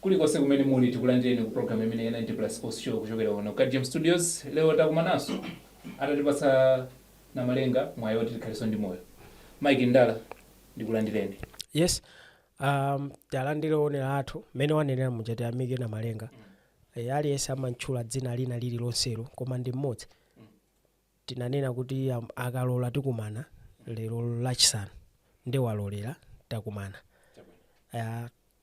kulikonse kumene muli tikulandireni ku program imeneyi ya 90 plus sports show kuchokera kuno ka gm studios lero takumananso atatipatsa namalenga mwayi woti tikhalenso ndi moyo mike ndala ndikulandireni yes um, talandire onera athu mmene wanenera muja tiyamike namalenga e, aliyense amantchula dzina lina lililonselo koma ndi mmodzi tinanena kuti am- akalola tikumana lero lachisanu nde waloladi takumana uh,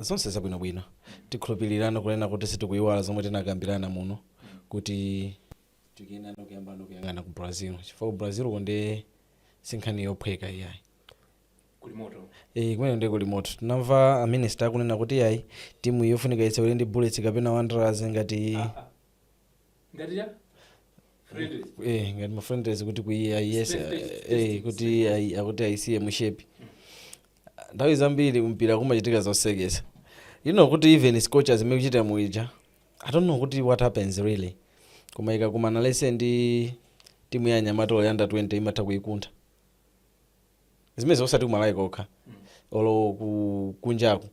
Zonse zabwino bwino. Tikhulupilirano kunena kuti simukuiwala zomwe tinakambirana muno kuti tikuyenerano kuyambano kuyang'ana ku Brazil chifukwa ku Brazil uko nde sinkhani yophweka iyayi. Kuli moto. Eh, kumene nde kuli moto. Tinamva a minister akunena kuti iyayi timu yofunika itseule ndi Bullets kapena Wanderers ngati ngati ya friendly eh ngati ma friendlies kuti akaiyese eh kuti ayi- akuti ayisiye mushepi nthawi zambiri mpira umachitika zosekesa you know kuti even scorchers imene ikuchita bwino ija i don't know kuti what happens really koma ikakumana let's say ndi timu ya anyamata olo a under 20 imatha kuikuntha zimenezo osati kumalawi kokha olo ku kunjaku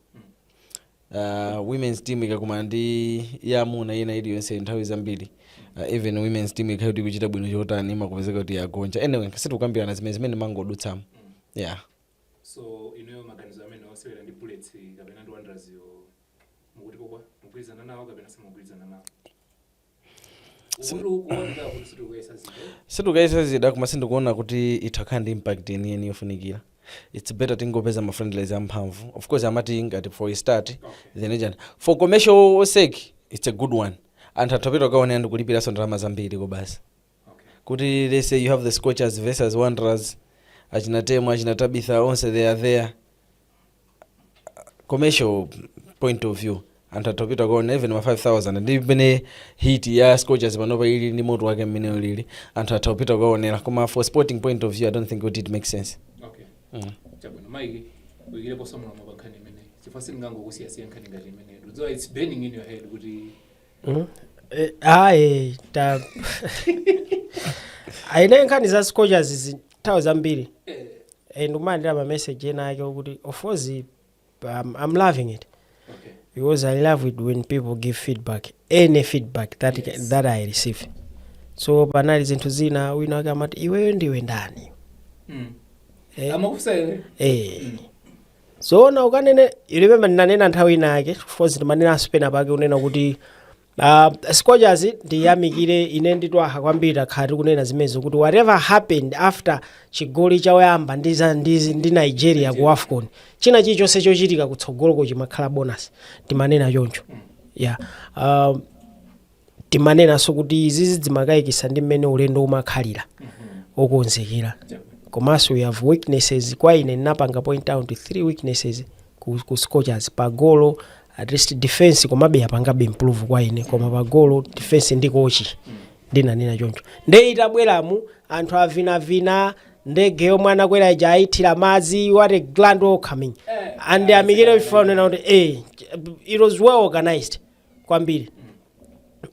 uh, women's team ikakumana ndi ya amuna ina iliyonse nthawi zambiri uh, even women's team ikhale kuti ikuchita bwino chotani imakupezeka kuti yagonja anyway sitikukambirana zimenezi ndimangodutsamo yeah so inuyo maganizo amenewo osewera ndi bullets kapena ndi wanderers yo mukuti okay mukugwirizana nawo kapena simukugwirizana nawo sitikuyesa zida koma sindikuona kuti itha kukhala ndi impact yeniyeni yofunikira its better tingopeza ma friendlies amphamvu of course amati ngati for a start then ijani for commercial sake its a good one anthu atha kupita kukaonera ndikulipiranso ndalama zambiri kobasi kuti let's say you have the scorchers versus wanderers achina temwa achina tabitha onse they are there commercial point of view anthu atha kupita kukaonera even ma 5000 ndi mmene heat ya scorchers panopa ili ndi moto wake mmene ulili anthu atha kupita kuwaonera koma for sporting point of view i don't think kuti it makes sense okay mm. chabwino mwayi uyikirepo ndemanga pomwe pa nkhani imeneyi chifukwa sindingangokusiyasiya nkhani ngati imeneyi ndikudziwa its burning in your head kuti Mm. Eh, ayi ta ayine nkhani za scorchers zi- nthawi zambiri eh, eh ndikumalandira ma message enaake okuti of course um, I'm loving it because I love it when people give feedback any feedback that, yes. that I receive so panali zinthu zina wina wake amati iweyo ndiwe ndani Mm. Eh. Amakufusa iwe. eh zoona ukunena I remember ndinanena nthawi ina yake of course ndimanena osati penapake unena kuti Uh, scorchers ndiyamikire ine nditwaha kwambiri takhala tikunena zimenezo kuti whatever happened after chigoli choyamba ndi, za- ndi, ndi nigeria ku afcon china chilichonse chochitika kutsogoloko chimakhala bonus timanena choncho yeah. uh, timanenanso kuti izizi zimakayikisa ndi mmene ulendo umakhalira okonzekera komanso we have weaknesses kwa ine ndinapanga point out three weaknesses ku, ku scorchers pagolo at least defense komabe yapangabe improve kwa ine koma pagolo defense ndi kochi ndinanena choncho nde itabweramu anthu avinavina ndege yomwe anakwera ija ayithira madzi what a grand welcoming ndiyamikire FAM kunena kuti eh, it was well organized kwambiri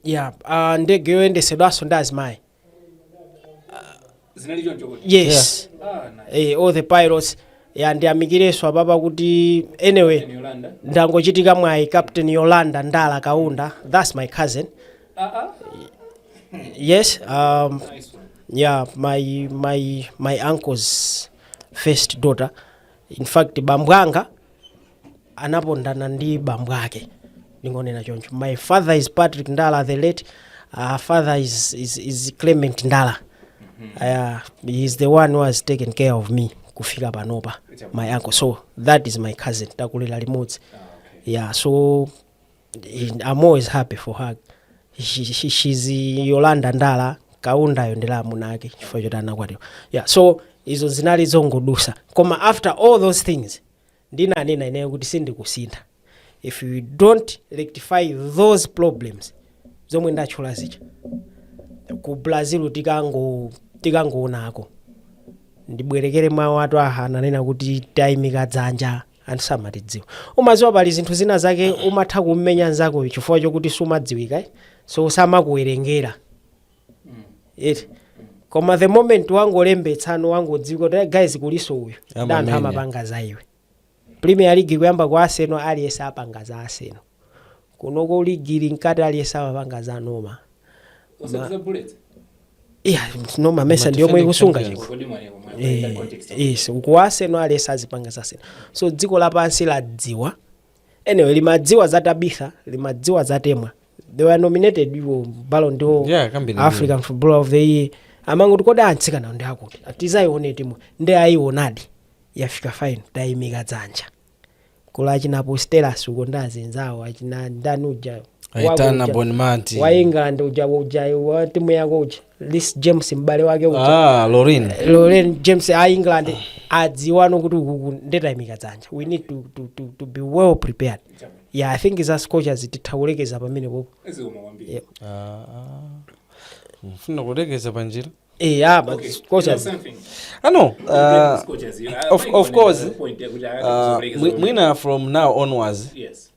yeah uh, ndege yoyendetsedwanso ndi azimayi zinali choncho kuti yes ah na eh, all the pilots ya ndiyamikireso apapa kuti anyway ni Yolanda ndangochitika mwayi captain yolanda ndala kaunda that's my cousin ah ah yes um, nice one yeah my my my uncle's first daughter in fact bambwanga anapondana ndi bambo ake ndingonena choncho my father is patrick ndala the late uh, father is, is, is clement ndala uh, he is the one who has taken care of me kufika panopa my uncle so that is my cousin takulira limodzi yeah so in- i'm always happy for her she, she, she's yolanda ndala Kaunda-yo ndi la amuna ake chifukwa choti anakwatiwa yeah so izo zinali zongodutsa koma after all those things ndinanena ineyo kuti sindikusintha if you don't rectify those problems zomwe ndatchula zija ku brazil tikango tikangoonako ndibwerekere mawu atu aha ananena kuti tayimika dzanja anthu samatidziwa umadziwa pali zinthu zina zake umatha kummenya nzakoyo chifukwa chokuti sumadziwika eh? so samakuwerengera eti koma the moment wangolembetsano wangodziwika kuti "Eh, guys kulinso uyu Amamenya. ndi anthu amapanga za iwe premier league kuyamba kwa Arsenal aliyese apanga za Arsenal kunoko league ili mkati aliyese amapanga za noma Osati za Bullets. iya noma mesa ndi yomwe ikusunga chikho Kodi mwanewa, mwanewa, Eh, that context. yes ku Arsenal aliyese azipanga za Arsenal so dziko lapansi ladziwa anyway limadziwa za tabitha limadziwa za temwa they were nominated iwo ballon d'or Yeah, kwambiri. african footballer of the year amangoti kodi atsikanawa ndi akuti tizayione timu ndi ayionadi yafika fine tayimika dzanja kula achina Putellas uko ndi azinzawo achina ndani uja aitana bonmati wa england uja uja wa timu yako uja lis james m'bale wake uja ah lorin loren james a england adziwano kuti ukuku ndetayimika dzanja we need to, to, to, to be well prepared yeah i think za scorchers titha kulekeza pamene popo Yeah. mfuna kulekeza panjira Eh, yeah, but scorchers ano uh, of- of course, uh, mwi- mwina from now onwards Yes.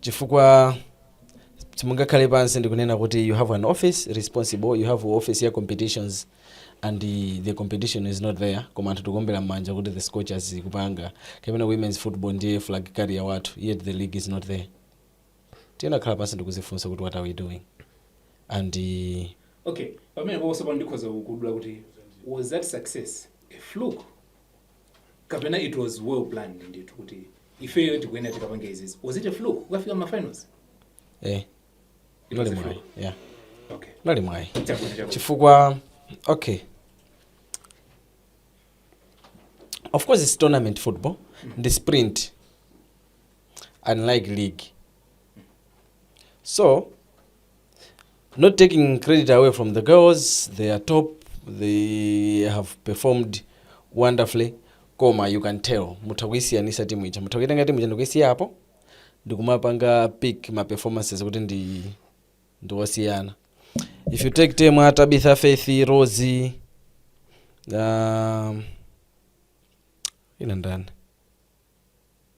chifukwa simungakhale pansi ndikunena kuti you have an office responsible you have office ya competitions and the, the competition is not there koma anthu tikuombera mmanja kuti the scorchers ikupanga kapena women's football ndiye flag carrier wathu yet the league is not there tinakhala pansi ndikuzifunsa kuti what are we doing and uh, okay pamene pokoso pano ndikhoza kukudula kuti was that success a fluke kapena it was well planned ndithu kuti ifeyo tikuyenera tikapange izizi was it a fluke ukafika mafinals eh It was nali a mwayi fluke. yeah okay nali mwayi Chabwino, chabwino. chifukwa okay of course it's tournament football ndi sprint unlike league so not taking credit away from the girls they are top they have performed wonderfully koma you can tell mutha kuyisiyanisa timu ija mutha kuyitenga timu ija ndikuyisiya apo ndikumapanga pick ma performances kuti ndi ndiwosiyana if you take team ya tabitha faith rosi um, wina ndani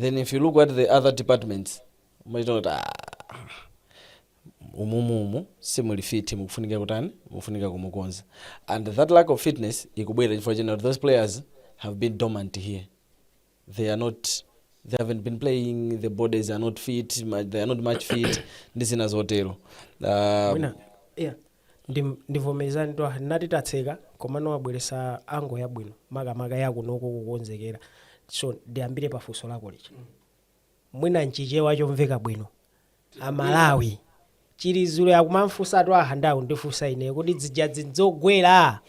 then if you look at the other departments mumachita kuti "Ah, umumumu simuli fiti mukufunika kutani mukufunika kumukonza and that lack of fitness ikubwera chifukwa chena kuti those players have been dormant here they are not they haven't been playing the bodies are not fit ma- they are not match fit ndi zina zotero uh, mwina yeah Ndim ndivomerezani twaha nnati tatseka komano wabweretsa angle yabwino makamaka yakunoko kukonzekera so ndiyambire pa funso lako lija mwina nchichewa chomveka bwino amalawi chilizule akumamufunsa twaha nde akundifunsa ine kodi zijazi nzogwera?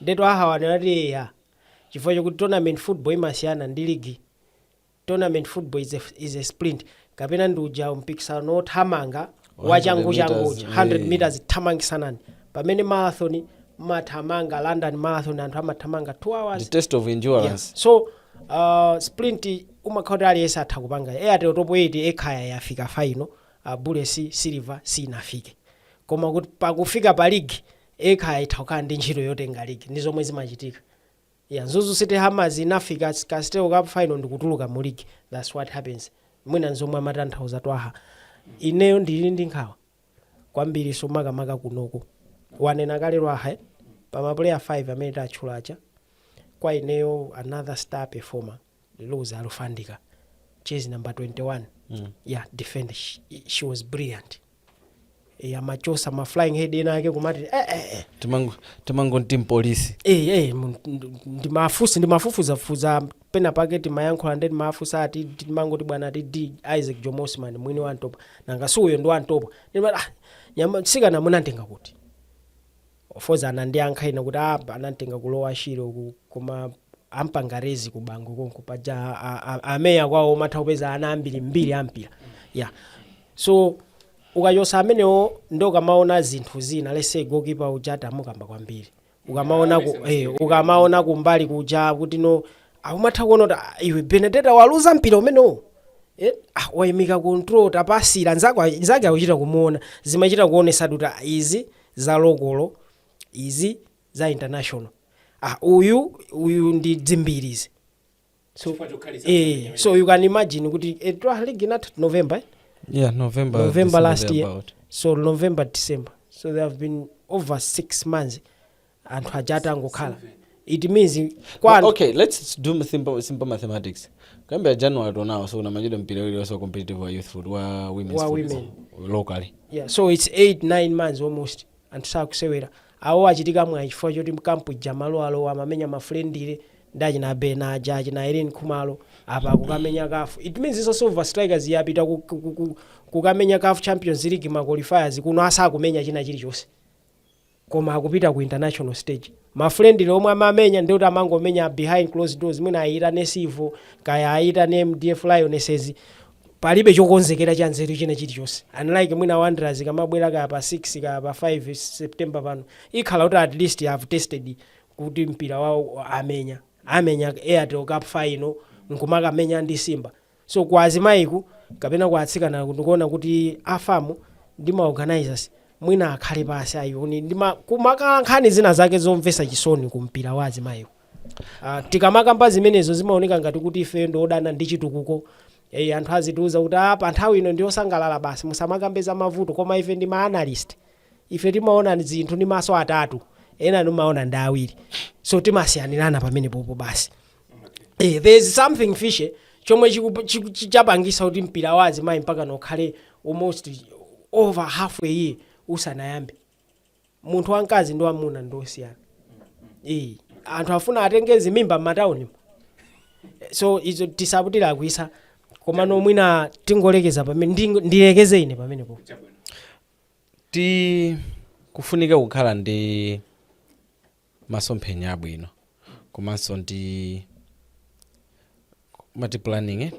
nde twaha wanena kuti eya chifukwa chokuti tournament football imasiyana ndi ligi Tournament football is a, is a sprint kapena ndi uja mpikisano wothamanga wachanguchangu uja 100 meters thamangisanani pamene marathon mathamanga london marathon anthu amathamanga 2 hours the test of endurance yeah. so uh, sprint umakhala kuti aliyense atha kupanga airtel top 8 ekhaya yafika faino uh, bullets ndi silver sinafike koma kuti pakufika pa ligi ekhaya itha kukhala ndi ntchito yotenga ligi ndi zomwe zimachitika Yeah mzuzu city hammers inafika castel cup final ndikutuluka mu league thats what happens mwina nzomwe amatanthauza twaha ineyo ndili ndi nkhawa kwambiriso makamaka kunoko wanena kale twaha eh? pamapuleya 5 amene tatchula aja kwa ineyo another star performer Rose Alufandika jezi number 21 ya defend she, she was brilliant e, amachosa ma flying head ena ake kumati eh, eh, eh. Timango- timangonti mpolisi Eh, eh, mu- nd- ndimafusi ndimafufuzafufuza pena pake timayankhula nde ndimawafusa ati timangoti bwana ati De Isaac Jomo Osman mwini wa Ntopwa nanga si uyo ndi wa Ntopwa Ndimati, ah, mtsikana munamtenga kuti Of course anandiyankha ine kuti aah anamtenga ku lower Shire uku koma ampanga raise ku Bangwe konko paja a, a, a mayor kwawo umatha kupeza ana ambiri mbiri ampira yeah so ukachosa amenewo nde ukamaona zinthu zina let's say goalkeeper uja tamukamba kwambiri ukamaona ku, eh, ukamaona kumbali kuja kuti no ah, umatha kuona kuti ah, iwe Benedetta waluza mpira umenewo Eh, ah, waimika control tapasira nzako nzake akuchita kumuona zimachita kuonesa kuti ah, izi za lokolo izi za international ah uyu uyu ndi dzimbiri izi so, eh, so you can imagine kuti eh, twa league inatha november eh? yeah november November December last year. thereabout. so november december so there have been over six months anthu aja atangokhala it means kwa anthu okay let's do simple, simple mathematics kuyambira january to now so sunamenyedwe mpira ulionse wa competitive wa youth foot wa women's Wa foot, locally yeah, so its 8 9 months almost anthu sakusewera awo achitika mwayi chifukwa choti mkampu jamu alowa amamenya ma friendly ndi achina bena aja achina Ireen Khumalo apa akukamenya CAF it means izo Silver strikers yapita ku- ku- ku- ku- kukamenya CAF champions league maqualifiers kuno asakumenya china chilichonse koma akupita ku international stage ma friendly omwe amamenya ndiye kuti amangomenya behind closed doors mwina ayitane Civil kaya ayitane MDF Lionesses palibe chokonzekera cha nzeru china chilichonse unlike mwina Wanderers ikamabwera kaya pa 6 kaya pa 5 September pano ikhala kuti at least have tested kuti mpira wawo amenya amenya Airtel Cup final nkumakamenya ndi Simba So kwa azimayiku kapena kwa atsikanaku ndikuona kuti a fam ndi ma organisers mwina akhale pansi ayione ndi ma, kumakhala nkhani zina zake zomvetsa chisoni ku mpira wa azimayiku. Ah, tikamakamba zimenezo zimaoneka ngati kuti ifeyo ndi odana ndi chitukuko. Eh, anthu azitiuza kuti ah, pa nthawi ino ndi osangalala basi musamakambe za mavuto koma ife ndi ma analyst. Ife timaona zinthu ndi maso atatu. Ena amaona ndi awiri. So timasiyanirana pamenepopo basi. eh, there is something fishy chomwe chiku- chiku- chi- chapangisa kuti mpira wa azimayi mpaka pano ukhale almost over half a year usanayambe munthu wamkazi ndi wamuna ndi osiyana eh, anthu afuna atenge zimimba m'mataunimo so izo tisapitilire kwambiri komano mwina tingolekeza pamene ndingo- ndilekeze ine pamenepo ti kufunika kukhala ndi masomphenya abwino komanso ndi mati planning eh?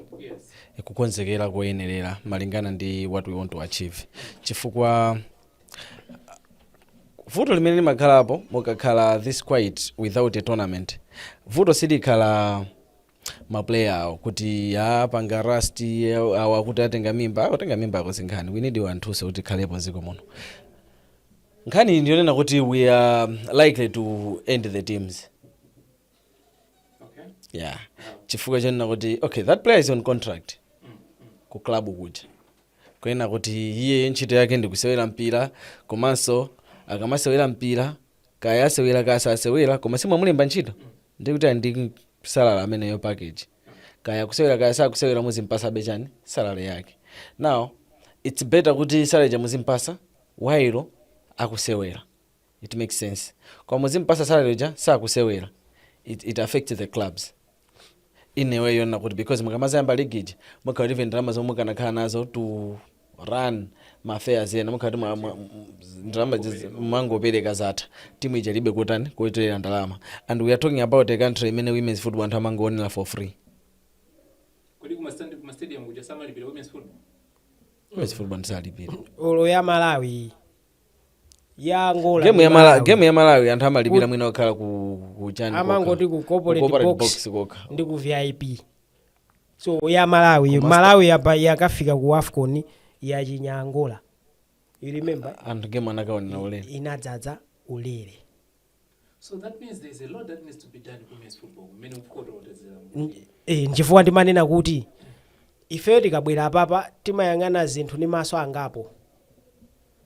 Eh, kukonzekera koyenerera malingana ndi what we want to achieve chifukwa vuto limene limakhalapo mukakhala this quiet without a tournament vuto silikhala ma player awo akuti apanga rust ya, awo akuti atenga mimba akutenga mimba akuzikana we need anthu oti akhalepo mdziko muno nkhani ndiyonena kuti we are likely to end the teams yeah chifukwa chonena kuti okay that player is on contract ku club kuja kuyenera kuti iye ntchito yake ndi kusewera mpira komanso akamasewera mpira kaya asewera kaya sasewera koma si mwamulemba ntchito ndikuti ali ndi salary ameneyo package kaya kusewera kaya sakusewera muzimpasabe chani salary yake now its better kuti salary ija muzimpasa while akusewera it makes sense koma muzimpasa salary ija sakusewera it, it affects the clubs ine ndikuona kuti because mukamadzayamba ligi ija mukhala kuti ndalama zomwe mukanakhala nazo to run ma affairs ena mukhala kuti mwa- mwa- m- ndalama zizi- mwangopereka zatha timu ija ilibe kutani kutolera ndalama and we are talking about a country imene women's football anthu amangoonera for free kodi kumastandi kumastadium kuja samalipira women's football women's football sitilipira olo ya malawi ya angola game ndi ya Mala- Malawi. game ya malawi anthu amalipira mwina okhala ku ku chani kokha. amangoti ku Ku corporate corporate box box kokha ndi ku vip so ya malawi malawi yapa yakafika ku afcon yachinya angola you remember anthu game anakawonera ulere inadzadza ulere So that means there's a lot that needs to be done ku women's football. Many of course what is um, e, nchifukwa ndimanena kuti ifeyo tikabwera apapa timayang'ana zinthu ndi maso angapo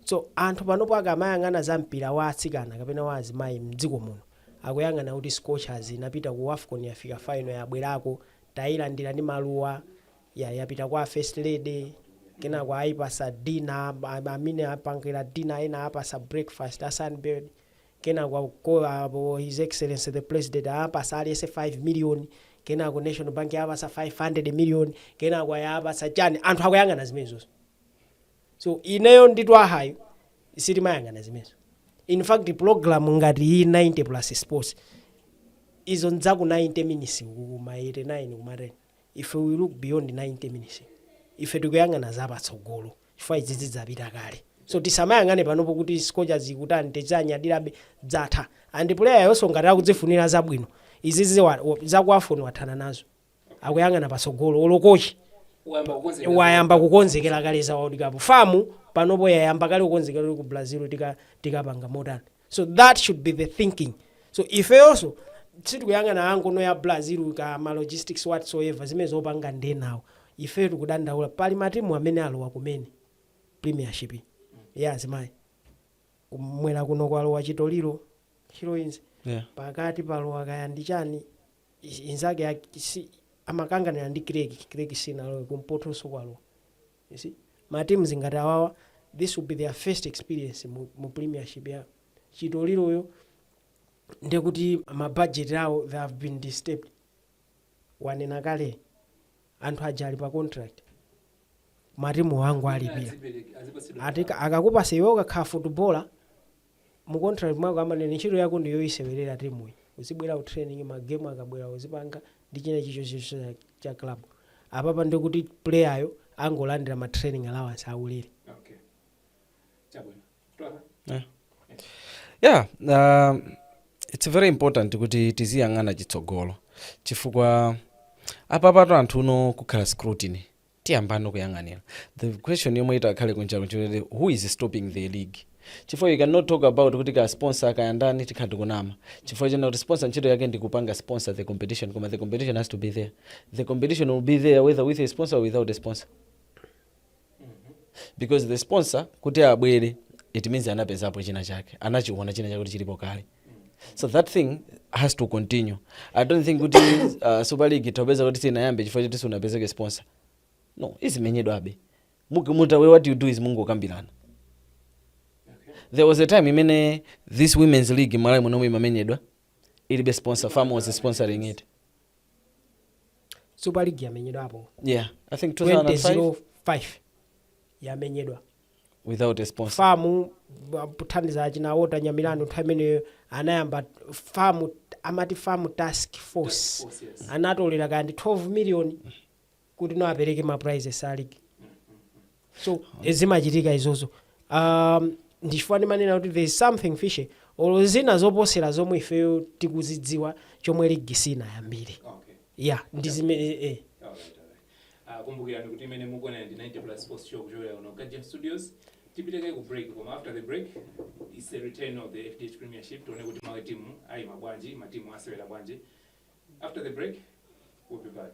so anthu panopo akamayang'ana za mpira wa atsikana kapena wa azimayi mdziko muno akuyang'ana kuti scorchers inapita ku wafcon yafika final yabwerako tayilandira ndi maluwa ya, yapita kwa first lady kenako ayipasa dina amene apangira dina ena apasa breakfast a sunbird kenako atachoka apo his excellency the president apasa aliyense 5 million kenako national bank yapasa 500 million kenako aya apasa chani anthu akuyang'ana zimenezozo so ineyo ndi twahayo sitimayang'ana zimenezo in fact program ngati iyi 90 plus sports izo n'za ku 90 minutes kuma 89 kuma 10 ife we look beyond 90 minutes ife tikuyang'ana zapatsogolo chifukwa izi zidapita kale so tisamayang'ane panopo kuti scorchers ikutani tidzanyadirabe zatha and player-yonso ngati akuzifunira zabwino izizi wa- wa- za ku afcon wathana nazo akuyang'ana patsogolo olo kochi wayamba kukonzekera wayamba kukonzekera kale za world cup fam panopo yayamba kale kukonzekera kuti ku brazil tika- tikapanga motani so that should be the thinking so ifeyonso sitikuyang'ana ngono ya brazil ka ma logistics whatsoever zimene zopanga ndenawo ifeyo tikudandaula pali matimu amene alowa kumene premiership ya azimayi kumwera kuno kwalowa Chitoliro heroines Yeah. pakati palowa kaya ndi chani i- inzake ya- si- amakanganira ndi Creck Creck sinalowe kumpotonso kwalowa you see ma teams ngati awawa this will be their first experience mu, mu premiership ya chitoliroyo ndiye kuti ma budget awo they have been disturbed wanena kale anthu aja ali pa contract matimu angowalipira Azipereke- azipatsidwa ati ndalama. akakupatsa iwe ukakhala footballer mu contract mwako amanena ntchito yako ndi yoisewerera teamuyi uzibwera ku training ma game akabwera uzipanga ndi china chilichonse cha club apapa ndiye kuti player yo angolandira ma training allowance aulere yeah uh, it's very important kuti tiziyang'ana chitsogolo chifukwa apapatu a- tikufuna kukhala scrutiny Tiyambeno kuyang'anira the question yomwe itakhale kunja kunja kuti who is stopping the league chifukwa you cannot talk about kuti kaya sponsor kaya ndani tikhala tikunama chifukwa choti sponsor ntchito yake ndi kupanga sponsor the competition koma the competition has to be there the competition will be there whether with a sponsor or without a sponsor because the sponsor kuti abwere it means anapezapo china chake anachiona china chake kuti chilipo kale so that thing has to continue i don't think kuti uh, super league tayerekeza kuti sinayambe chifukwa choti sanapezeke sponsor no izimenyedwabe Muki- muta we what you do is mungokambirana there was a time imene this women's league malawi munomu imamenyedwa ilibe sponsor fam was sponsoring it super league yamenyedwapo yeah i think 2005 2005 yamenyedwa without a sponsor. FAM ba- pothandiza achina Walter Nyamilandu nthawi imeneyo anayamba FAM amati FAM task force anatolera kaya ndi 12 million kuti no apereke ma prizes a league so eh, zimachitika izozo um, ndichifukwa ndimanena kuti there is something fishy olo zina zopotsera zomwe ifeyo tikuzidziwa chomwe league sinayambire ya ndi zimene eh, eh. Ah, kumbukirani kuti imene mukuonera ndi 90 plus sports show kuchokera kuno kajem studios tipite kaye ku break koma after the break is a return of the fdh premiership tione kuti matimu ayima bwanji matimu asewera bwanji after the break we'll be back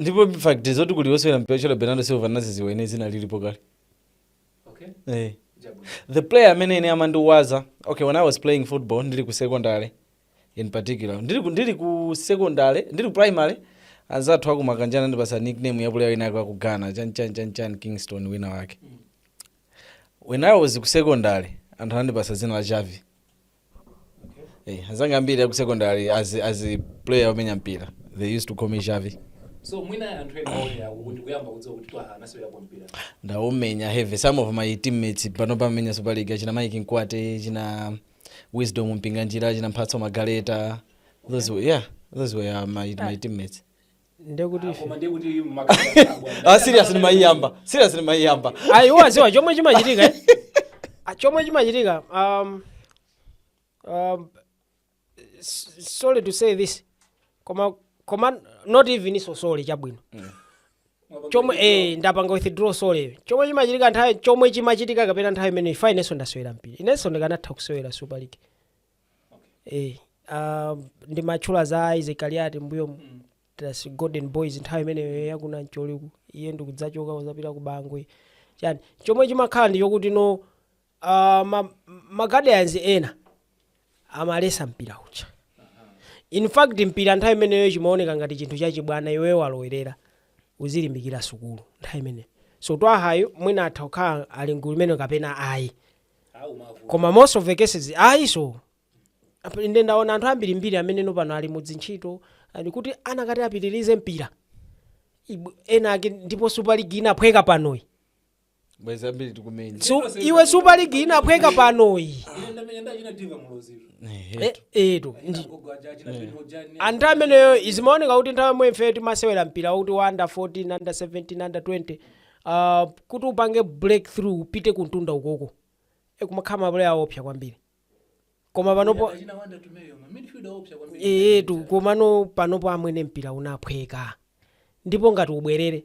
ndipo fact yoti kuli wosewera mpira otchedwa bernardo silva ndadziwa ine dzina lilipo kale okay. hey. Eh. the player amene ine amandiwaza, okay when i was playing football ndili ku secondary in particular ndili, ndili ku secondary ndili ku primary anzathu akumakonda kundipatsa nickname ya player wina yake akugana chanchanchanchan kingston wina wake mm. when i was ku secondary anthu anandipatsa dzina la Xavi Hey, anzanga ambiri aku secondary as, as a player omenya mpira they used to call me Xavi so mwina anthu ena aonera kuti kuyamba kudziwa kuti twaha anasewerapo mpira ndaumenya heavy some of my teammates panopa amenya super league achina mike mkwate achina wisdom mpinganjira achina mphatso magaleta those were, yeah those were uh, my, my teammates ndekuti ife ah serious ndimaiyamba serious ndimaiyamba ayi wadziwa chomwe chimachitika eh? Ah, chomwe chimachitika um, um, s- sorry to say this koma koma not even sorry chabwino chomwe eh, ndapanga withdraw sorry chomwe chimachitika nthawi chomwe chimachitika kapena nthawi imene ija inenso ndasewera mpira inenso ndikanatha kusewera super league Eh, ah, ndimatchula za isaac kaliati mbuyo timati golden boys nthawi imeneyo yakuna mcholiku iye ndikudzachoka kudzapita ku bangwe chani chomwe chimakhala ndi chokuti no ah, ma- ma guardians ena amaletsa mpira uja in fact mpira nthawi imeneyo chimaoneka ngati chinthu chachibwana iwe walowerera uzilimbikira sukulu nthawi imeneyo so twahayo mwina atha kukhala ali mgulu imeneyo kapena ayi alibe mavuto koma most of the cases ayinso Apa inde ndaona anthu ambirimbiri amene no pano ali mudzintchito oti akanati apitirize mpira Ibu- ena ake ndipo super league inaphweka panoyi bwezi ambiri tikumenya Su, iwe super league inaphweka panoyi ine ndamenya ndi achina diva muloziro Eh, etu ndi gogo aja achina pino jani anthu amenewo zimaoneka kuti nthawi yomwe ife timasewera mpira wakuti wa under 14 under 17 under 20 Aaah kuti upange breakthrough upite kumtunda ukoko eeh kumakhala ma player awoopsa kwambiri koma panopo etu komano panopo amwene mpira unaphweka ndipo ngati ubwerere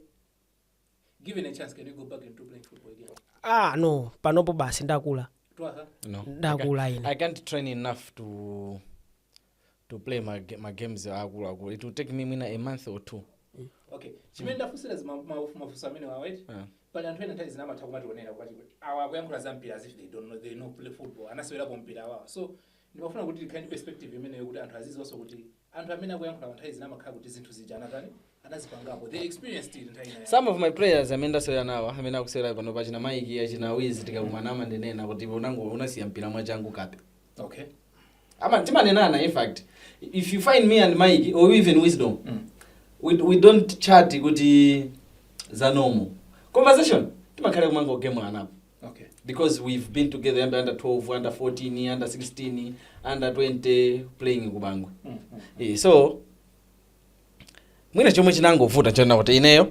aah no panopo basi ndakula No, I can't, ndakula ine I can't train enough to to play ma, ga- ma games akulu akulu it will take me mwina a month or two okay chimene ndafunsira zima- ma- mafunso amenewawa eti Ah. pali anthu ena nthawi zina amatha kumationera kuti awa akuyankhula za mpira as if they don't know they never play football anasewerapo mpira awawa so ndimafuna kuti tikhale ndi perspective imeneyo kuti anthu aziziwanso kuti anthu amene akuyankhulapa nthawi zina amakhala kuti zinthu zija anatani anazipangapo they experienced it nthawi imeneyo some of my players amene ndasewera nawo amene akusewera pano pa achina Mike achina Wizi tikakumana amanena kuti unango- unasiya mpira mwachangu kape okay ama- timanenana in fact if you find me and Mike or even Wisdom Mm. we, we don't chat kuti za normal conversation timakhala kumangogemulanapo okay because we've been together under, under 12 under 14 under 16 under 20 playing ku Bangwe Mm, mm. Eh, so mwina chomwe chinangovuta chinali kuti ineyo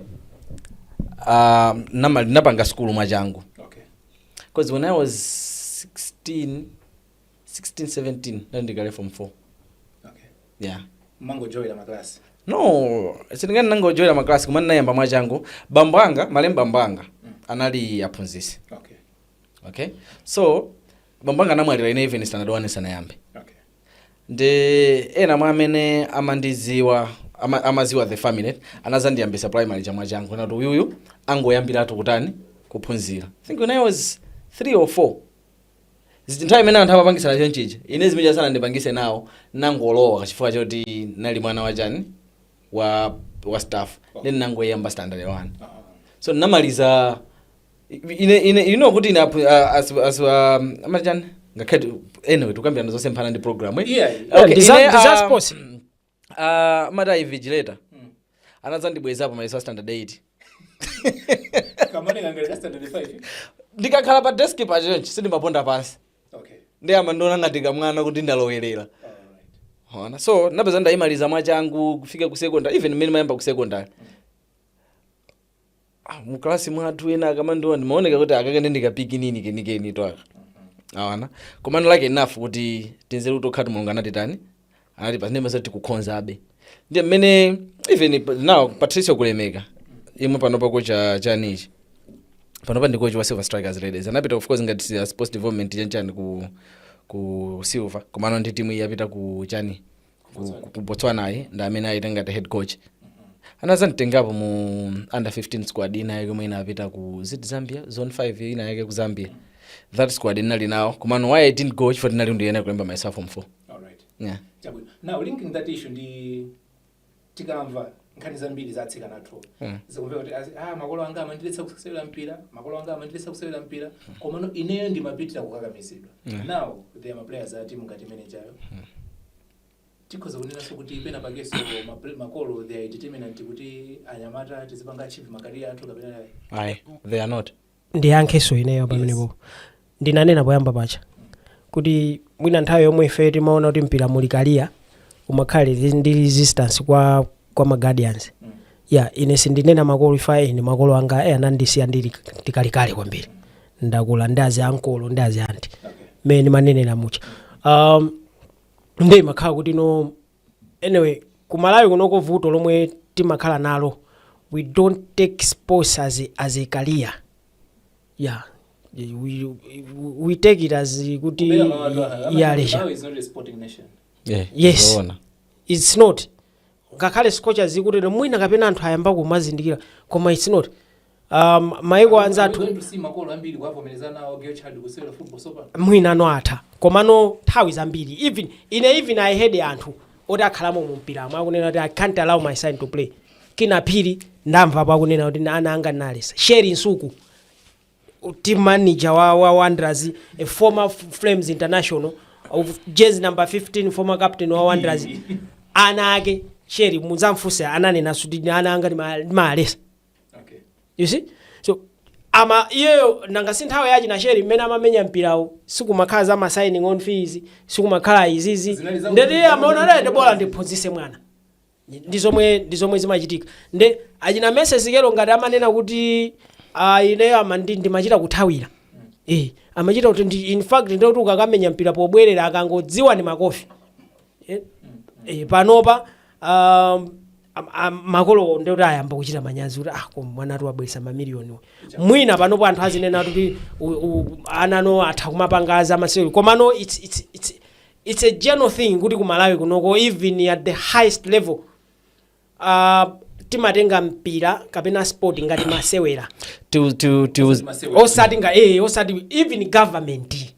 ah, nama- ndinapanga sukulu mwachangu okay because when i was 16 16 17 ndali ndili kale form 4 okay yeah mumangojowera maklasi no sindinganene nangojowera maklasi koma ndinayamba mwachangu bambo anga malemu bambo anga anali aphunzitsi okay okay so bambo anga anamwalira ine even standard 1 sanayambe okay ndi ena mwa amene amandidziwa ama, amadziwa the family anadzandiyambitsa primary mwachangu nati uyuyu angoyambiratu kutani kuphunzira I think when i was 3 or 4 zoti nthawi imene anthu amapangitsana chonchi ija ine zimenezo sanandipangitse nawo nangolowa kachifukwa choti nali mwana wachani wa wa staff then nangoyamba standard 1 so ndinamaliza ine ine you know kuti ine apu- a- as as um, amati chani ngakhale tu- anyway tukambirana zosemphana ndi program eh? Yeah. Okay, Ndi za- ine, ndi za um, sports. ah, amati a invigilator anadzandibwezapo mayeso a standard 8 pamene ndinkalemba standard 5. ndikakhala pa desk pa chonchi sindimaponda pansi Okay. ndiye amandiona ngati kamwana kuti ndalowerera Alright. so napeza ndayimaliza mwachangu kufika ku secondary even mmene mayamba ku secondary ah, mu class mwathu ena akamandiona ndimaoneka kuti akaka ndi kapikinini kenikeni to aka awana koma lucky enough kuti tinzeru tokha mulungu anatitani anati anatininkha tikukhozabe ndiye mmene even pa- now Patricio Kulemeka yemwe panopa kocha chanichani panopa ndi kocha wa Silver Strikers Ladies anapita of course ngati uh, sports development chanchani ku ku Silver komano ndi timu iyi yapita ku chani ku, ku, ku Botswana-yi ndi amene apita ngati head coach anadzanditengapo mu under 15 squad ina yake yomwe inapita ku zit zambia zone 5 ina yake ku zambia that squad inali nawo komano why i didn't go chifukwa ndinali ndiyenera kulemba mayeso a form 4 All right. yeah. Chabwino. Now linking that issue ndi tikamva nkhani zambiri za atsikana athu mm. zikumveka kuti ah, makolo anga amandiletsa kusewera mpira makolo anga amandiletsa kusewera mpira mm. komano ineyo ndimapitira kukakamizidwa mm. now they are maplayers a timu ngati imenejayo mm. tikhoza kunenanso kuti pena pakenso makolo they are determinant kuti anyamata tizipanga achieve ma career athu kapena ayi they are not ndiyankhenso ineyo pamenepo ndinanena poyamba paja kuti mwina nthawi yomwe ife timaona kuti mpira muli career umakhala resi- ndi resistance kwa kwa maguardians ya ine sindinena makolo ife ine makolo anga e anandisiya ndili kalekale kwambiri ndakula ndi azi uncle ndi azi aunt mmene ndimanenera mucha um, nde imakhala kuti no anyway ku malawi kunoko vuto lomwe timakhala nalo we don't take sports as a, as a career yeah we, we take it as kuti ya leisure Yeah, Yes. zoona. it's not ngakhale scorchers ikutere mwina kapena anthu ayamba kumazindikira koma it's not um, maiko anzathu Are we going to see makolo ambiri kuwavomereza nawo girl child kusewera football sopano mwinano atha komano nthawi zambiri even ine even i had anthu oti akhalamo mu mpiramo akunena kuti i can't allow my son to play kina phiri ndamvapo akunena kuti ana anga ndinalesa sheri nsuku team manager wa, wa wanderers a former flames international of jezi number 15 former captain wa wanderers ana ake sheri mudzamfunse ananena kuti ana anga ndima- ndimalesa Okay. you see so ama iyeyo nanga si nthawi ya achina sheri mmene amamenya mpirawo sikumakhala za ma signing on fees sikumakhala izizi Zinali za- nde kuti iye amaona kuti bola ndiphunzise mwana ndi zomwe ndi zomwe zimachitika nde achina messi kelo ngati amanena kuti ah, ineyo ama ndi- ndimachita kuthawira eh amachita kuti ndi- in fact ndikuti ukakamenya mpira pobwerera akangodziwa ni makofi eh, eh, panopa um, am- am- makolowo ndikuti ayamba kuchita manyazi kuti ah koma mwana atibweresera mamiliyoniwo mwina panopo anthu azinena kuti u- u- anano atha kumapanga za masewero komano it's, it's, it's, it's a general thing kuti kumalawi kunoko even at the highest level uh, timatenga mpira kapena sport ngati masewera Tiwu- tiwu- tiwu- osati nga eh, osati even government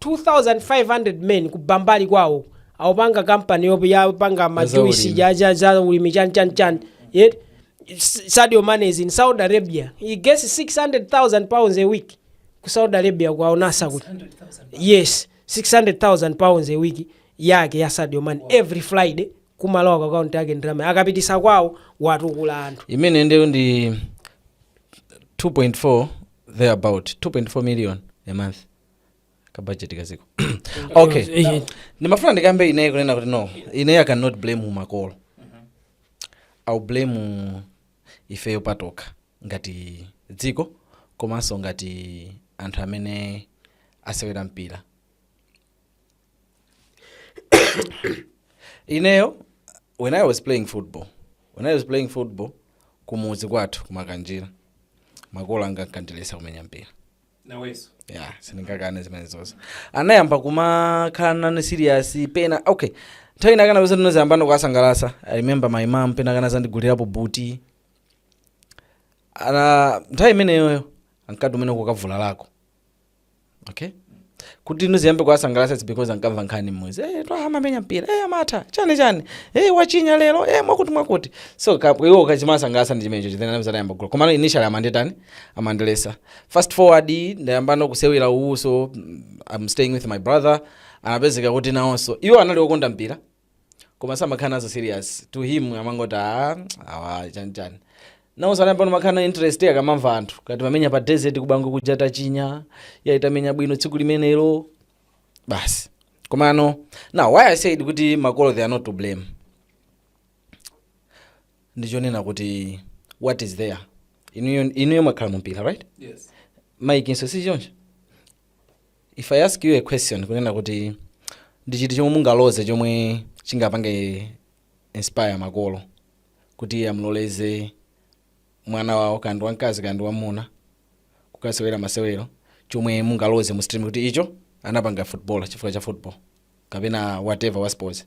2500 men ku bambali kwawo awopanga kampani yo yopanga majuisi ulimi. ja ja ja ulimi chani chani chani yet S- Sadio Mane is in Saudi Arabia he gets 600000 pounds a week ku Saudi Arabia kwa Al Nassr kuti yes 600000 pounds a week yake ya Sadio Mane every Friday kumalowa ku account yake ndalama akapitisa kwawo watukula anthu imene ndiyo ndi 2.4 thereabout 2.4 million a month kabajeti kadziko okay Eh, ndimafuna ndikambe ineyi kunena kuti no ineyi i cannot blame makolo or blame ifeyo patokha ngati dziko komanso ngati anthu amene tasewera mpira ineyo when i was playing football when i was playing football kumudzi kwathu ku Makanjira makolo anga ankandiletsa kumenya mpira nawenso ya sindingakane zimene zonse anayamba kumakhala nane serious pena okay nthawi ina akanapeza ndinadzayambano kukasangalasa i remember my mom pena anadzandigulirapo buti ana nthawi imeneyoyo ankati umene kukavula lako okay kuti uziyambe kuwasangalasa its because ankamva nkhani mmudzi hey, amamenya mpira hey, amatha chani chani hey, wachinya lelo hey, mwakuti mwakuti so ka- iwo kachimasangalasa ndi chimenecho chithenanamza anayamba kugula komano initially amanditani amandiletsa fast forward ndayambano kusewera uwuso i'm staying with my brother ndinapezeka kuti nawonso iwo anali okonda mpira koma samakhala nazo serious to him amangoti "Ah, awa chanichani nawonso anayambano kumakhala na interest akamamva anthu akuti mamenya pa desert ku Bangwe kuja tachinya ayi tamenya bwino tsiku limenelo basi komano now why i said kuti makolo they are not to blame ndi chonena kuti what is there inuyo inuyo mwakhala mu mpira right Yes. mayikinso si choncho if i ask you a question kunena kuti ndi chiti chomwe mungaloze chomwe chingapange inspire makolo kuti amloleze mwana wawo kaya ndi wamkazi kaya ndi wammuna kukasewera masewero chomwe mungaloze mu stream kuti icho anapanga football chifukwa cha football kapena whatever wa sports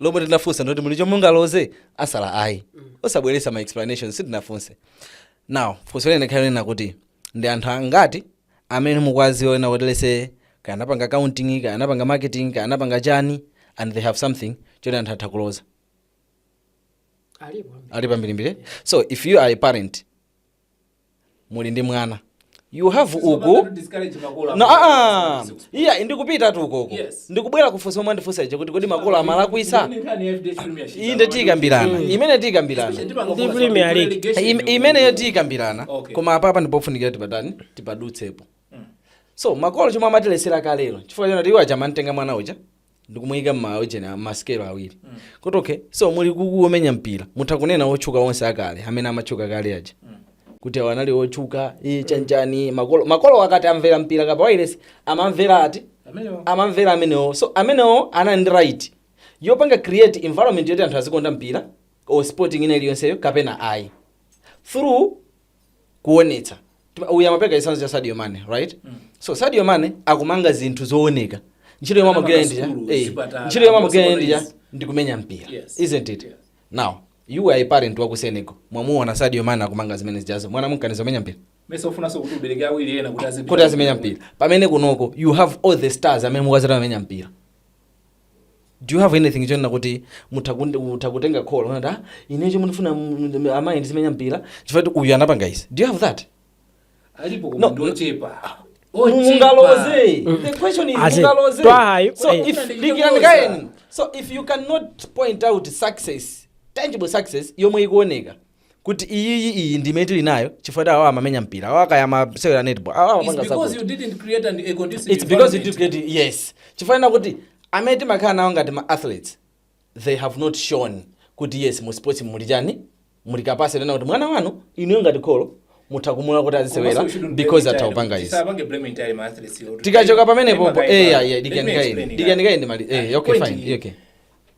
lomwe tinafunsa ndoti muli chomwe mungaloze asala ayi musabweretse ma explanation sitinafunse now funso linakakhala lonena kuti ndi anthu angati amene mukuwadziwa onena kuti lets say kaya anapanga accounting kaya anapanga marketing kaya anapanga chani and they have something choti anthu atha kuloza alipo alipo ambirimbiri so if you are a parent muli ndi mwana you have uku Sizopangatu discourage makolo no, amene ah, amasukulu. iyayi ndikupitatu konko Yes. ndikubwera kufunso lomwe wandifunsa lija kuti kodi makolo amalakwitsa Ndi nkhani ya FDH Premier Shisa. iyi nde tiyikambirana imeneyo tiyikambirana Especially tipanga Ndi kufunsa Premier kuti League. relegation Im- yo- imeneyo tiyikambirana Okay. koma apapa ndipofunikira tipatani tipadutsepo so makolo chomwe amatiletsera kalero chifukwa chonena kuti iwo aja amantenga mwana uja ndikumuyika mma ujeni a- masikelo awiri kuti okay so muli uku womenya mpira mutha kunena otchuka onse akale amene amatchuka kale aja kuti awo anali otchuka iye chanichani makolo makolo akati amvere mpira kapena pa wailesi amamvera ati Amenewo. amamvera amenewo so amenewo anali ndi right yopanga create environment yoti anthu azikonda mpira or sport ina iliyonseyo kapena ayi through kuonetsa Tima- uyu amapereka chitsanzo cha sadio mane right so sadio mane akumanga zinthu zooneka ntchito yomwe amagwira Amapanga ndi ija sukulu, eh, zipatala, ntchito yomwe amagwira amapanga ndi ija izi. ndi kumenya mpira Yes. isn't it Yes. now you are a parent wa ku senegal mwamuona sadio mane akumanga zimene zijazo mwana mumkaniza kumenya mpira mesa ufunanso kuti ubereke awiri ena kuti azipita kuti azimenya mpira pamene kunoko you have all these stars amene mukuziti amamenya mpira do you have anything chonena kuti mutha kundi- mutha kutenga call kunati ah ine chomwe ndifuna mm, mm, amayi ndizimenya mpira chifukwa kuti uyu anapanga izi do you have that alipo No. koma ndi ochepa mungaloze the question is Ase, mungaloze twahayi, so eh. if dikirani kaye so if you cannot point out success tangible success yomwe ikuoneka kuti iyiyi iyi ndi imene tili nayo chifukwa kuti awa amamenya mpira awa kaya amasewera netball awa It's amapanga because zakuti you didn't create an, a conducive it's because you environment. did get yes chifukwa chonena kuti amene timakhala nawo ngati ma athletes they have not shown kuti yes mu sports muli chani muli kapasite yonena kuti mwana wanu inuyo ngati kholo mutha kumulola kuti azisewera Komanso shouldn't blame because entirely- atha kupanga izi tisapange blame entirely ma athletes yo. tikachoka pamene Blame popo kaye eh pa- yeah yeah Let me dikirani kaye explain dikirani that. kaye mali eh okay Point fine ni- okay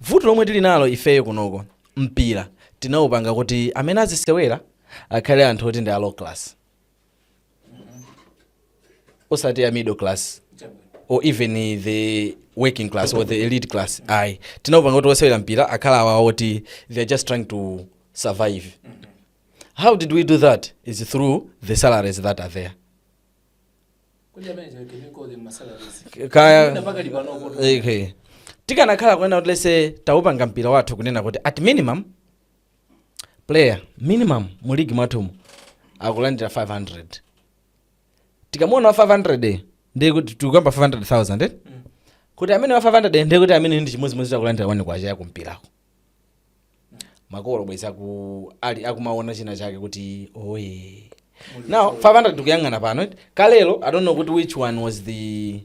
Vuto lomwe tili nalo ifeyo kunoko mpira tinaupanga kuti amene azisewera akhale anthu oti ndi a low class osati a middle class or even the working class or the elite class ayi tinaupanga kuti osewera mpira akhale awa oti they are just trying to survive how did we do that is through the salaries that are there tikanakhala kunena kuti let's say taupanga mpira wathu kunena kuti at minimum player minimum mu ligi mwathumu akulandira 500 tikamuona wa 500 ndiye kuti tikukamba 500000 eh? kuti amene wa 500 ndiye kuti amene ndi chimodzimodzi akulandira one kwacha yakumpirako makolo bwezi aku ali akumaona china chake kuti oh yeah now 500 tikuyang'ana pano eti. kalelo i don't know kuti which one was the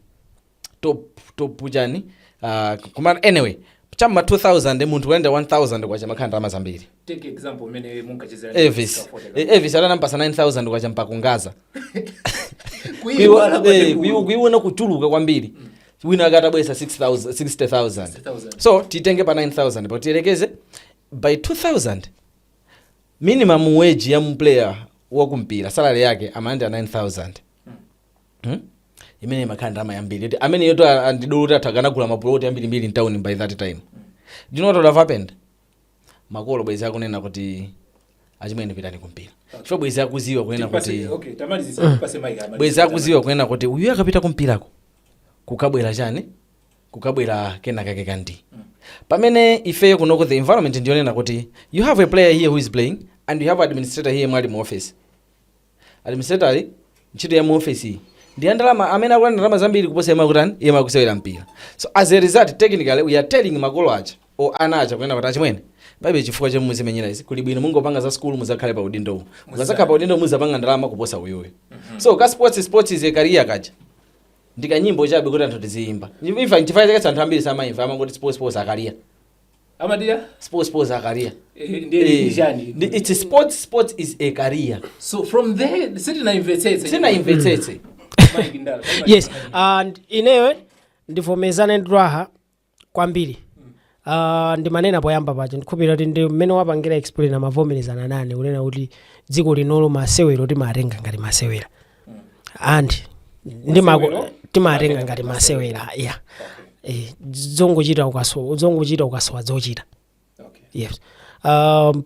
top top chani uh, koma anyway cha m'ma 2000 munthu kulandira 1000 kwacha imakhala ndalama zambiri take example umene munkachezera elvis Eh, elvis adanapasa 9000 kwacha mpakungaza kuiwala Kuiwo- eh, kuiwo- kuiwona kuchuluka kwambiri wina wake atabweretsa 6000 60000 60,000. so titenge pa 9000 pa tiyerekeze by 2000 minimum wage ya player wakumpira salary yake amalandira 9000 Hmm? imene imakhala ndalama yambiri yoti amene yoto andidolo kuti athu akanagula mapuloti ambirimbiri mtawuni by that time do you know what would have happened makolo bwezi akunena kuti achimwene pitani kumpira chifukwa bwezi akuziwa kunena kuti bwezi akuziwa kunena kuti uyu akapita kumpirako kukabwera chani kukabwera kenakake kandi pamene ifeyo kunoko the environment ndiyonena kuti you have a player here who is playing and you have administrator here mwali mu office Administrator ntchito ya muofesiyi ndi ya ndalama amene akulandira ndalama zambiri kuposa yemwe akutani yemwe akusewera mpira so as a result technically we are telling makolo aja o ana aja kunena kuti achimwene palibe chifukwa chomwe muzimenyera izi kuli bwino mungopanga za skulu muzakhale pa udindo uwu mukazakhala pa udindo muzapanga ndalama kuposa uyuyu so ka sports sports is a career kaja ndikanyimbo chabe kuti anthu tiziyimba imva nchifukwa chake anthu ambiri samayimva amangoti sports sports a career amati sports sports a career Eh, ndiye Eh, ndi chani ndi- it's sports sports is a career so from there sitinayimvetsetse sinaimvetsetse Mike Ndala, Mike yes Ndala. and ineyo ndivomezane ndi raha kwambiri Uh, ndimanena poyamba paja ndikhupira kuti ndi mmene wapangira explain amavomerezana nane kunena kuti dziko linolo masewero timatenga ngati masewera and ndimako Masewero? timatenga ngati masewera ya Eh, zongochita ukasowa zongochita ukasowa zochita okay. yes um,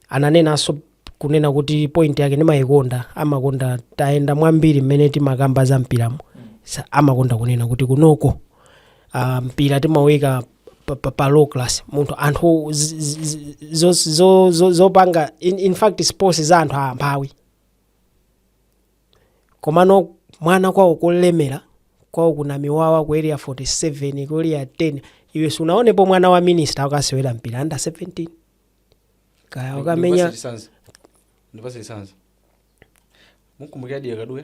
ananenanso kunena kuti point yake ndimayikonda amakonda tayenda mwambiri mmene timakamba za mpiramo Sa- amakonda kunena kuti kunoko uh, mpira timauika pa, pa, pa low class munthu anthu z- z- z- zo- zo- zo- zopanga in, in fact sports za anthu amphawi Komano mwana kwawo kolemera kwawo ku Namiwawa ku area 47 ku area 10 iwe sunawonepo mwana wa minister akusewera mpira under 17 kaya akamenya ndipasilisanza mukumbukira diya kaduya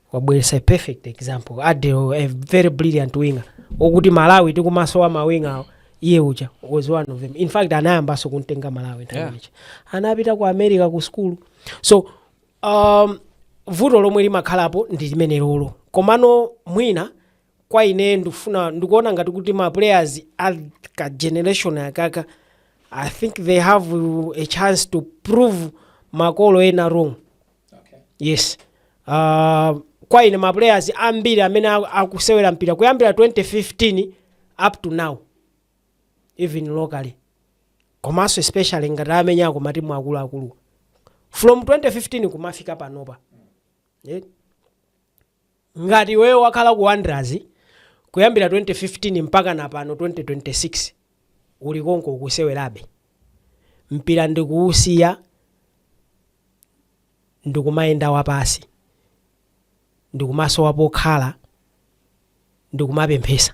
wabweresa a perfect example adel a very brilliant winger okuti Malawi tikumasowa ma winger-wo iye uja was one of them in fact anayambanso kumtenga Malawi nthawi Yeah. imeneyi. anapita ku America ku skulu so um, vuto lomwe limakhalapo ndi limenelolo komano mwina kwa ine ndikufuna ndikuona ngati kuti ma players a ka generation akaka i think they have a chance to prove makolo ena wrong yes uh, kwa ine ma players ambiri amene aku- akusewera mpira kuyambira 2015 up to now even locally komanso especially ngati amenyako matimu akuluakulu from 2015 kumafika panopa yeah. Ngati iweyo wakhala ku Wanderers kuyambira 2015 mpakana pano 2026 uli konko ukusewerabe mpira ndikuusiya ndikumayenda wapasi ndikumasowa pokhala ndikumapemphesa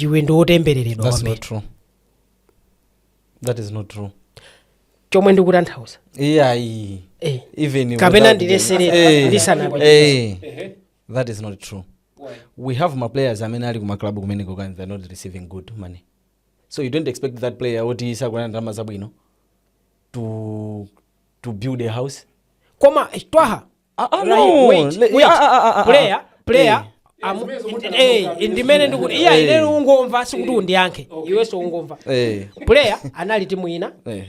iwe ndiwotembereredwa That's not true. that is not true chomwe ndikutanthauza iyayi Eh. even Kapena ndilesere, them. Eh, ndisanapite. eh, that is not true we have ma players amene ali kumaclub kumene kokuti they're not receiving good money so you don't expect that player oti sakulandira ndalama zabwino to, to build a house koma eh, twaha Ah, ah, Right, no. wait, Le- wait. ah, ah, ah, ah, ah. player player Eh. amu- Zimene zokuti eh, anazonga eh, ndimene zimene. ndikuti iyayi Eh. ine ungomva sikuti undiyankhe Okay. iwenso ungomva Eh, player anali ku timu ina eh.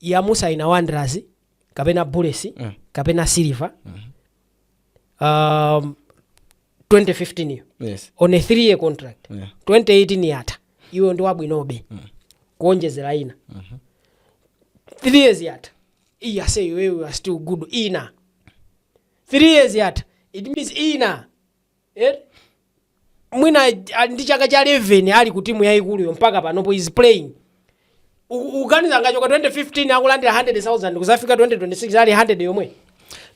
yamusaina wanderers kapena bullets Mm. kapena silver um, 2015 iyo Yes. on a 3 year contract Yeah. 2018 yatha iwe ndi wabwinobe kuonjezera ina 3 years yatha Iye ase you you are still good ina 3 years yatha it means ina eh? mwina ah, ndi chaka cha 11 ali ku timu yayikuluyo mpaka panopo he's playing U- uganiza angachoke 2015 akulandira 100000 kuzafika 2026 ali 100 yomwe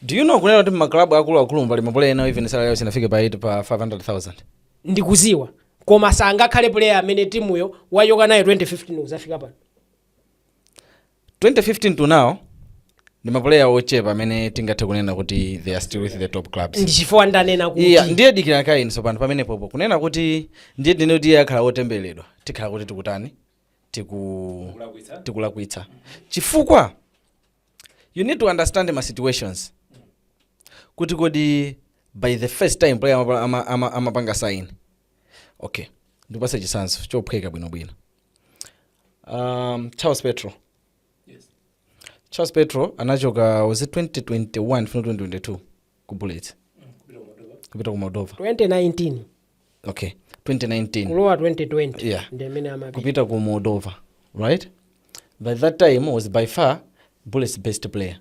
do you know kunena kuti maklabu akuluakulu pali mapulaya enawo even salary yawo sinafike pa 8 pa 500000 ndikuziwa koma sangakhale player amene timuyo wachoka nayo 2015 kuzafika pano 2015 to now ndi mapuleya ochepa amene tingathe kunena kuti they are still with the top clubs ndi chifukwa ndanena kuti iyayi ndiye dikira kaye sopano pamenepopo kunena kuti ndiye tinene kuti iye akhale wotembereredwa tikhala kuti tikutani tiku tikulakwitsa chifukwa you need to understand ma situations kuti kodi by the first time player amapa- ama- ama- amapanga sign okay ndikupasa chisanzo chophweka bwinobwino um, charles petro charles petro anachoka was it 2021 kulowa 2022 ku bullets kupita ku moldova 2019 okay 2019 kulowa 2020 Yeah. ndi mmene amapita kupita ku moldova right by that time was by far bullets best player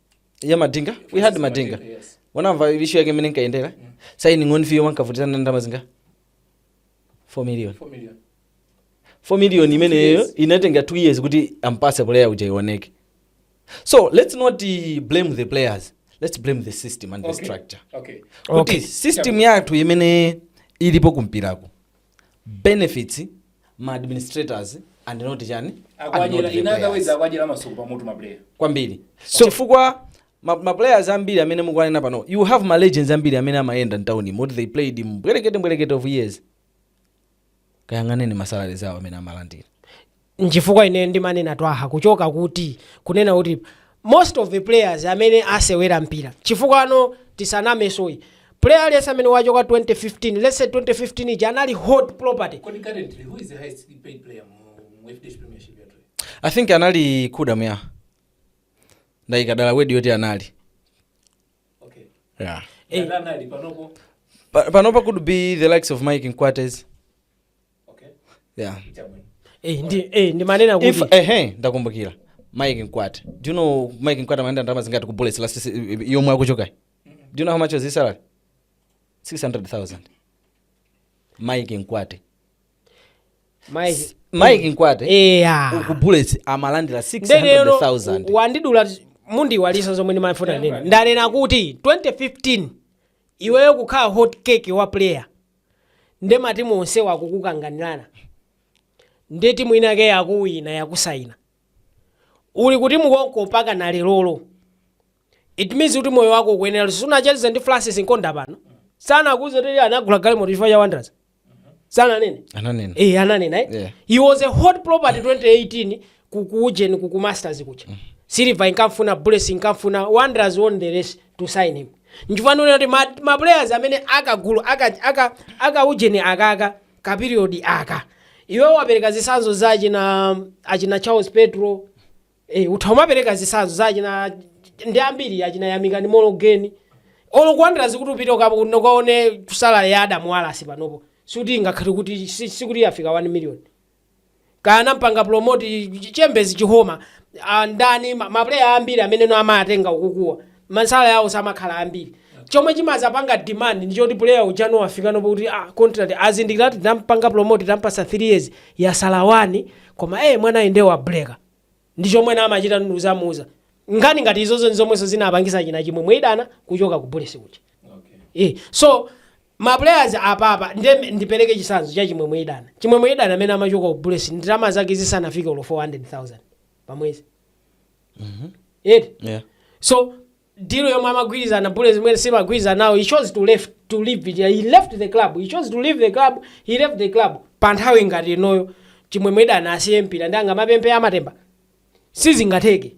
ya madinga we had madinga Yes. unamva ishu yake imene inkayendera signing on fee-yo ankavutitsana ndalama zingati 4 million Four million. 4 million imeneyo inatenga 2 years kuti ampase player uja ioneke so let's not uh, blame the players let's blame the system and the Okay. structure Okay. kuti Okay. system yathu imene ilipo kumpirako benefits ma administrators and not chani and not the players. in other words akuwadyera masuku pamutu mapuleya kwambiri so chifukwa ma, ma players ambiri amene mukuwanena panopa you have ma legends ambiri amene amayenda mtauni moti they played mbwerekete mbwerekete of years kayang'aneni ma salaries awo amene amalandira nchifukwa ineyo ndimanena twaha kuchoka kuti kunena kuti most of the players amene asewera mpira chifukwa ano tisaname si player aliyense amene wachoka 2015 let's say 2015 ija anali hot property Kodi currently who is the highest paid player mu mu FDH Premiership yathu? i think anali kuda mya ndayikadala wedi yoti anali Okay. yeah. Eh. Ndana ali panopo. Pa- panopa could be the likes of mike mkwate yeah Eh, ndi eh, ndimanena kuti if ehe ndakumbukira mike mkwate do you know mike mkwate amalandira ndalama zingati ku bullets last se- i- i- yomwe akuchokayi do you know how much was his salary 600000 mike mkwate Mike- mike mkwate eya ku bullets amalandira ndekero 600000 wandidula mundiiwalitsa zomwe ndimafuna ndinene ndanena kuti 2015 iweyo kukhala hot cake wa player nde matimu onsewa akukukanganirana nde timu inake yakuwina yakusayina uli kuti mukomoko mpaka na lerolo it means kuti moyo wako ukuyenera luso sunacheze ndi francis nkonda pano sanakuuze kuti iye anagula galimoto chifukwa cha wanderers sananene ananena Eh, ananena eh? Yeah. he was a hot property 2018 ku ku ujeni ku ku masters kuja silver inkamfuna bullets inkamfuna wanderers won the race to sign him nchifukwa ndikunena kuti ma, ma players amene a kagulu aka, aka, aka ujeni akaka ka period aka iwe wapereka zisanzo za achina achina charles petro eh, utha kumapereka zisanzo za achina ndi ambiri achina yamikani mologeni olo akulandira sikuti upite ukapo- ukaone salary ya adamu walasi panopo sikuti ngakhale kuti si- sikuti yafika 1 million kaya amampanga promote chi- chi- chembezi chikoma ah, ndani ma- maplayer ambiri amene iwo amawatenga ukukuwa ma salary awo samakhala ambiri chomwe chimazapanga demand ndi choti player uja ndo wafika panopo kuti ah, contract azindikira kuti tampanga promote tampasa 3 years yasalawani koma eh mwana ende wa breaker ndi chomwe na amachita ndu zamuza nkhani ngati izozo ndi zomwenso zinapangisa achina chimwemwe idana kuchoka ku bullets kuja okay. Eh, so Ma players apapa nde ndipeleke chisanzo cha Chimwemwe Idana. Chimwemwe Idana amene amachoka ku Bullets ndalama zake zisanafike olo 400,000 pa mwezi. Eti? Yeah. So deal yomwe amagwirizana Bullets imene samagwirizana nawo he chose to left to leave it. He left the club. He chose to leave the club. He left the club. Pa nthawi ngati inoyo Chimwemwe Idana asiye mpira ndi angamapemphe amatemba. Sizingatheke.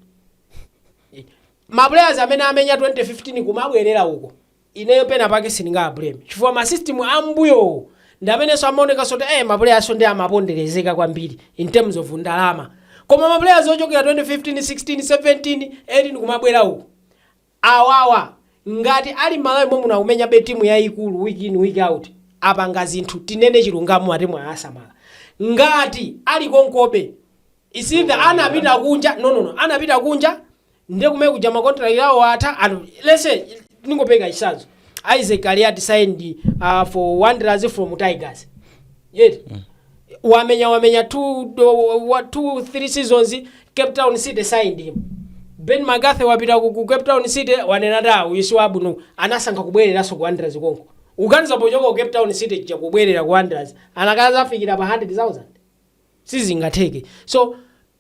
Ma players amene amenya 2015 kumabwerera uko. Ineyo pena pake sindingawa blame chifukwa ma system a m'mbuyowo ndi mmenenso amaonekanso kuti eh ma playerso nde amapondelezeka kwambiri in terms of ndalama koma ma players ochokera 2015, 16, 17, 18 kumabwera uku awawa ngati ali m'Malawi mommuno akumenyabe team yaikulu week in week out apanga zinthu tinene chilungamo matimu awasamala ngati ali konkobe it's either anapita kunja no no no anapita kunja ndiye kumene kuja ma contract awo atha and let's say ndingopereka chitsanzo Isaac Kaliati signed uh, for Wanderers from Tigers yet wamenya wamenya two, do, wa, two three seasons Cape Town City signed him Benni McCarthy wapita ku, ku Cape Town City wanena da uyu si wabwino anasankha kubwereranso ku Wanderers konko uganiza pochoka ku Cape Town City cha kubwerera ku Wanderers anakadzafikira pa 100,000 sizingatheke so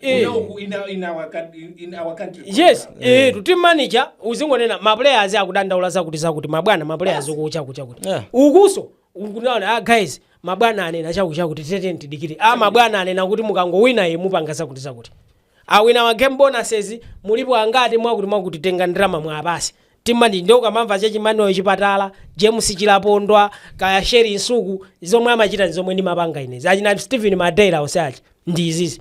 Eh. Una- u- in our- in our coun- in- in our country called yes club. eh, to team manager uzingonena maplayers akudandaula zakuti zakuti mabwana maplayers uku chakuti chakuti Yeah. ukuso ukunaona ah guys mabwana anena chakuti chakuti teteni tidikire ah mabwana anena kuti mukangowina ye mupanga zakuti zakuti awinawa game bonuses mulipo angati mwakuti mwakuti tenga ndalama muwapatse timandi nde ukamamva za achi Manuel Chipatala James Chilapondwa kaya Sherry Msuku zomwe amachita ndi zomwe ndimapanga inezi achina Stephen Madeira onse achi ndi izizi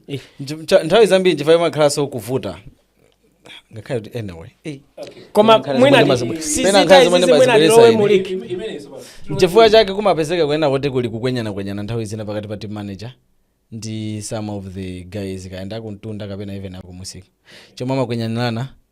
Eh. Nch- cha- nthawi zambiri nchifukwa imakhalanso kuvuta ngakhale kuti anyway eh. koma Pena mwina nkhani zomwe- pena sizita nkhani zomwe izizi mwina ndimazibwereza ndilowe ine. muliki nchifukwa chake kumapezeka kunena kuti kuli kukwenyanakwenyana nthawi zina pakati pa team manager ndi some of the guys kaya ndi akumtunda kapena even akumusika chomwe amakwenyanirana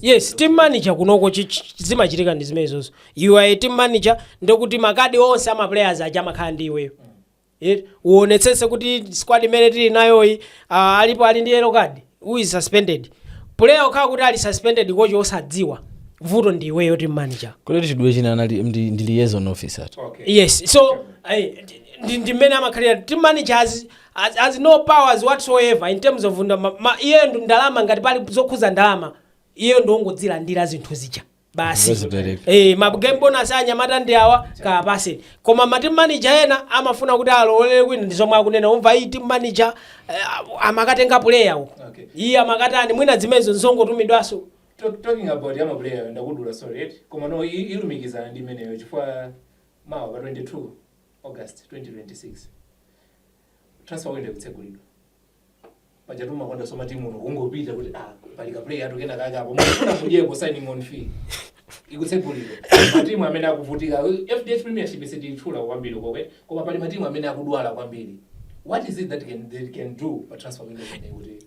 yes team manager kunoko chi- chi- zimachitika ndi zimenezozo you are a team manager ndekuti makadi onse a ma players aja amakhala ndi iweyo Eh, uonetsetse kuti squad imene tili nayoyi ah, alipo ali ndi yellow card who is suspended player okhala kuti ali suspended kochi osadziwa vuto ndi iweyo team manager kuleti chidwe china anali ndi ndi liaison officer tu. yes so eh, ndi- ndi mmene amakhalira team managers has has no powers whatsoever in terms of nda- ma- ma- iyeyo ndi ndalama ngati pali zokhuza ndalama iyeyo ndi ongozilandira zinthu zija basi Ngozipereka. Eh, ma game bonus anyamata ndi awa kawapatse koma ma team manager ena amafuna kuti alowelere kwina ndi zomwe akunena umva iyi team manager eh, amakatenga player uko Okay. iye amakatani mwina zimenezo nzongotumidwaso Talk- talking about ama player ndakudula sorry right? koma no i- ilumikizana ndi imeneyo chifukwa mawa pa 22 August 2026 transfer window ikutsegulidwa pajatu umakondaso matimu uno kungopita kuti ah pali ka player atu kena kaka apo mufuna kudyeko signing on fee ikutsegulidwa matimu amene akuvutika FDH Premiership sitiyitchula kwambiri okay koma pali matimu amene akudwala kwambiri what is it that can, they can do pa transfer window imeneyi kuti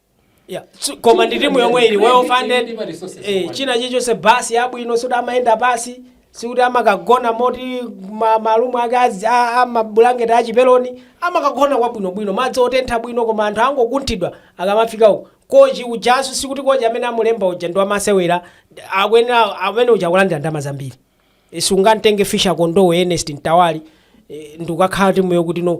Yeah. So, koma ndi timu yomwe ili well funded eh, china chilichonse basi yabwino sikuti amayenda pansi sikuti amakagona moti ma- marumu ake azi- a- a mabulangeti achipeloni amakagona kwabwinobwino madzi otentha bwino koma anthu angokunthidwa akamafika uko kochi ujaso sikuti kochi amene anamulemba uja ndi wamasewera akuyenera amene uja akulandira ndalama zambiri Eh, sungamtenge Fischer Kondowe Ernest Mtawali eh, ndikukakhala timu yokuti no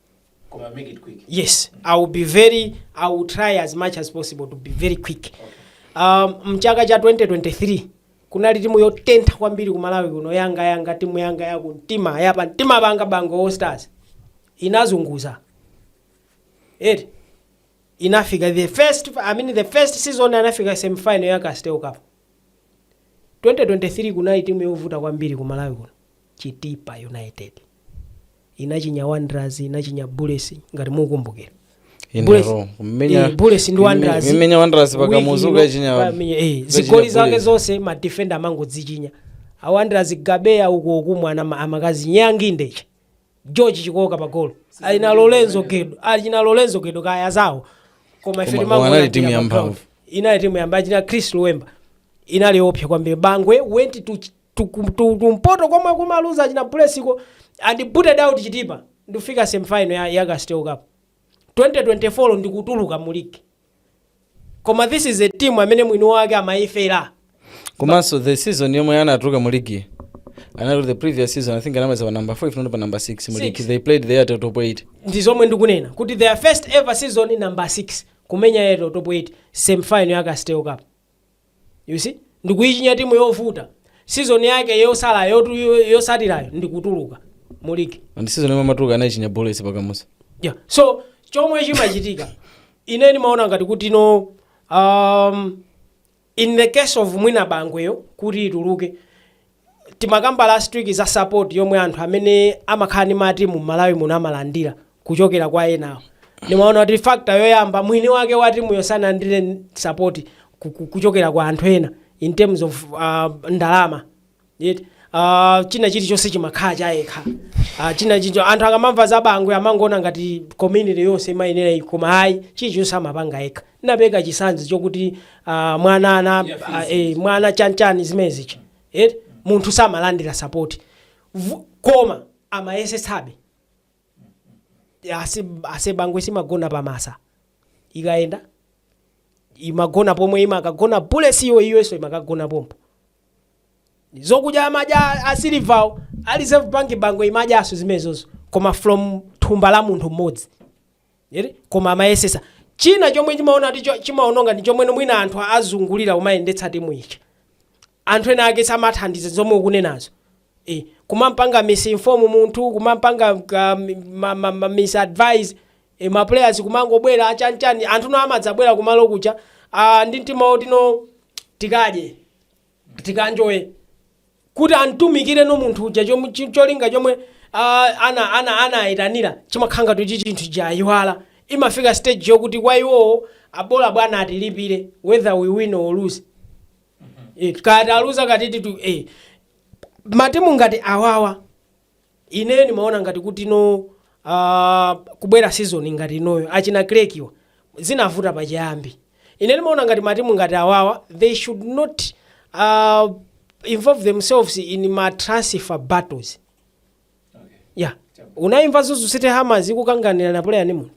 Koma make it quick. yes i will be very i will try as much as possible to be very quick um, mchaka cha 2023 kunali timu yotentha kwambiri ku malawi kuno yanga yanga timu yanga yaku mtima yapa mtima Bangwe Bangwe All Stars inazunguza eti inafika the first i mean the first season anafika semifinal ya Castel Cup 2023 kunali timu yovuta kwambiri ku malawi kuno Chitipa United inachinya Wanderers, inachinya Bullets ngati mukukumbukira. Bullets- inero eh, kumenya Bullets ndi Wanderers. kumenya wanderers Wiki pa Kamuzu ino, ukachinya ukamenye- eh, zigoli zake zonse madefenda amangodzichinya a Wanderers Gabeya uko kumwana ma- amakazi nyangi ndeche George Chikooka pagolo ali na lorenzo gedo ali na lorenzo gedo kaya zawo koma ife Koma- timangoona koma anali mpira timu ya pa ground. mphamvu. inali timu ya mba achina Chris Lwemba inali yopsa kwambiri bangwe went to ch- tu- ku- tu- kumpoto komwe kumaluza achina Bulletsko and booted out chitipa ndikufika semifinal ya, ya castel cup 2024 ndikutuluka mu league koma this is a team amene mwini wake amayifera komanso the season yomwe anatuluka mu ligi anali the previous season i think anamaliza pa number 5 not pa number 6 mu ligi Six. they played there till top 8 ndi zomwe ndikunena kuti their first ever season number 6 kumenya yeto top 8 semifinal ya castel cup you see ndikuyichinya timu yovuta season yake yosala yotu- yo- yotsatirayo ndikutuluka mu ligi and season yomwe amatuluka anayichinya bullets pa Kamuzu yeah. so chomwe chimachitika ine ndimaona ngati kuti no um, in the case of mwina bangweyo kuti ituluke timakamba last week za support yomwe anthu amene amakhala ndi matimu m'malawi muno amalandira kuchokera kwa ena ndimaona kuti factor yoyamba mwini wake wa timuyo sanalandire support ku- ku- kuchokera kwa anthu ena in terms of uh, ndalama Yet, uh, china chilichonse chimakhala chayekha uh, china chicho anthu akamamva za bangwe amangoona ngati community yonse imayifera iyi koma ayi chilichonse amapanga yekha ndinapereka chitsanzo chokuti ah, mwana ana ah, eh, mwana chanchani zimenezicha eh? munthu samalandira sapoti Vu- koma amayesetsabe Asi- asebangwe siimagona pamphasa ikayenda imagona pomwe imakagona Bullets iyo iyonso imakagona pompo zokudya amadya a Silverwo a Reserve bank bangwe imadyaso zimenezozo koma from thumba la munthu mmodzi eti koma amayesesa china chomwe chimaona kuti cho- chimaononga ndi chomwe mwina anthu azungulira kumayendetsa timu ija anthu ena ake samathandiza zomwe ukunenazo e, kumampanga misinform munthu kumampanga ka- mi- ma- ma- ma- misadvise e, ma players kumangobwera achanchani anthu no amadzabwera kumalo kuja ah, ndi mtima woti no tikadye Tikanjoye kuti amtumikire no munthu uja chom- chi- cholinga chomwe ah, ana ana anayitanira chimakhala kuti chinthu chayiwalika imafika stage yokuti kwa iwowo bola bwana atilipire whether we win or lose Eh, kati aluza katiti tu eh. matimu ngati awawa Ine ndimaona ngati kuti no uh, kubwera season ngati inoyo achina Creck-wa zinavuta pachiyambi. Ine ndimaona ngati matimu ngati awawa they should not uh, involve themselves in ma transfer battles. Yeah. Unaimva Mzuzu City Hammers ikukanganirana player ndi munthu.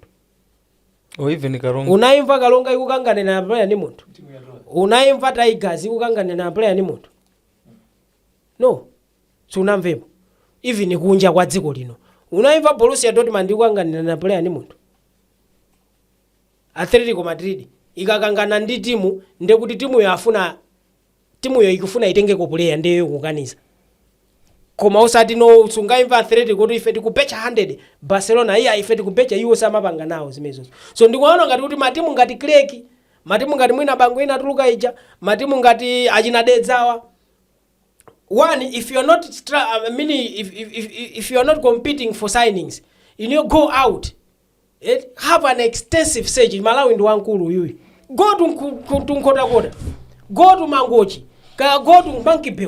or even karonga Unaimva Karonga ikukanganirana player ndi munthu. Timu ya Roma. unaimva tigers ikukanganirana player ndi munthu no sunamvepo even kunja kwa dziko lino unaimva borussia dortmund ikukanganirana player ndi munthu atletico madrid ikakangana ndi timu ndekuti timuyo afuna timuyo ikufuna itengeko player ndeyo ikukaniza koma usati no sungaimva athletic kuti ife tikubecha 100 barcelona iyayi ife tikubecha iwo samapanga nawo zimenezozo so ndikuona ngati kuti matimu ngati creck matimu ngati mwina bangwe inatuluka ija matimu ngati achina dedzawa one if you are not stra- I mean, if, if, if, if you are not competing for signings you know go out eh, have an extensive search malawi ndi wankulu uyuyu go to Nku- ku- to nkhotakota go to mangochi kaya go to monkey bay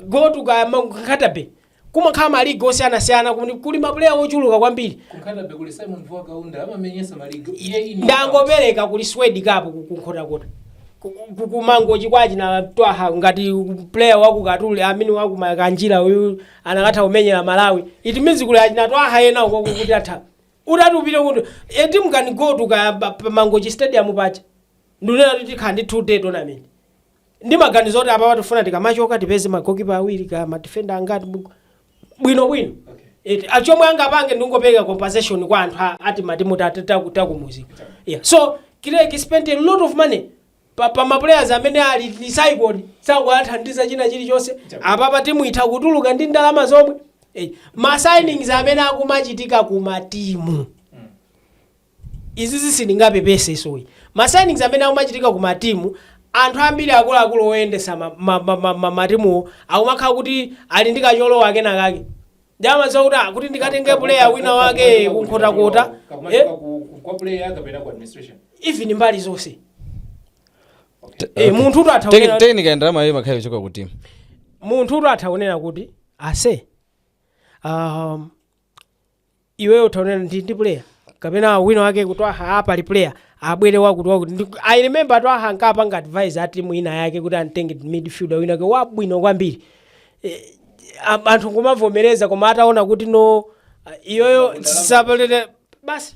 go to kaya nkatabe kumakhala maligi osiyanasiyana kuli kuli maplayer ochuluka kwambiri kunkhatabay kuli simon vuwa kaunda amamenyesa maligi iye ine ndangopereka kuli swed cup ku- kunkhotakota Ku- ku- kumangochi kwachi na twaha ngati player waku katuli amene waku makanjira uyu anakatha kumenyera malawi it means kuli achina twaha ena uko kuti atha utati upite kuti a team can go to ka pa- pa mangochi stadium paja ndikunena kuti tikhala ndi two day tournament ndimaganiza kuti apapa tifuna tikamachoka tipeze magokipa awiri ka madifenda angati bu- bwinobwino Eti, a- chomwe angapange ndingopereka compensation kwa anthu a- amatimu ta- ta- ta- akumudzi yeah. so creck spent a lot of money pa, pa maplayers amene ali recycled sakuwathandiza china chilichonse apapa timu itha kutuluka ndiye ndalama zomwe Eh, ma signings amene akumachitika ku matimu Izizi sindingapepese sorry. Ma signings amene akumachitika ku ma team anthu ambiri akuluakulu oyendesa ma ma ma ma ma matimuwo akumakhala kuti ali ndi kocholowa kena kake. Ndiye amadziwa kuti ah kuti ndikatenge player wina wake ku Nkhotakota eh Kakumachoka ku ku- kwa player kapena ku administration. even mbali zonse. Eh munthu utu atha kunena- tekinika ndalama iyo imakhala kuchoka ku timu munthu utu utha kunena kuti ase um, iweyo taonera ndi ndi player kapena wina wake kuti aha apa ali player abwere wakutiwakuti Ndi- i remember to aha ankapanga advise a timu ina yake kuti antenge midfielder wina wake wabwino kwambiri Eh, a- anthu kumavomereza koma ataona kuti no ah, iyeyo sapalete basi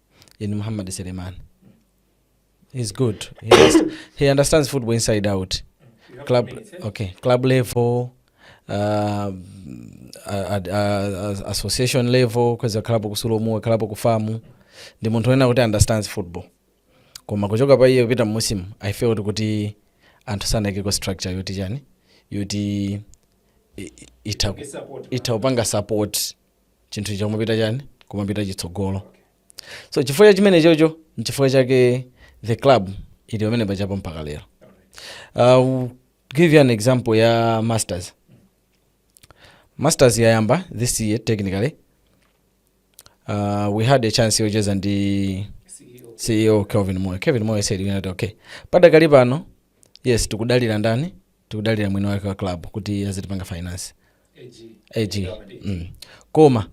in Muhammad Selemani. He's good. He, has, he understands football inside out. Club, okay, club level, uh, uh, uh, association level, wakhalapo ku SULOM, wakhalapo ku FAM. Ndi munthu wonena kuti understands football. Koma kuchoka pa iye kupita mmusimu, I feel kuti kuti anthu sanaikeko structure yoti chani, yoti i- i- ita- itha kupanga support chinthu icho kumapita chani kumapita chitsogolo so chifukwa cha chimenechocho nchifukwa chake the club ili pamenepajapo mpaka lero uh, give you an example ya masters masters yayamba this year technically uh, we had a chance yocheza ndi ceo kelvin moyo kelvin moyo said you know, okay padakali pano yes tikudalira ndani tikudalira mwini wake wa club kuti azitipanga finance ag mm. koma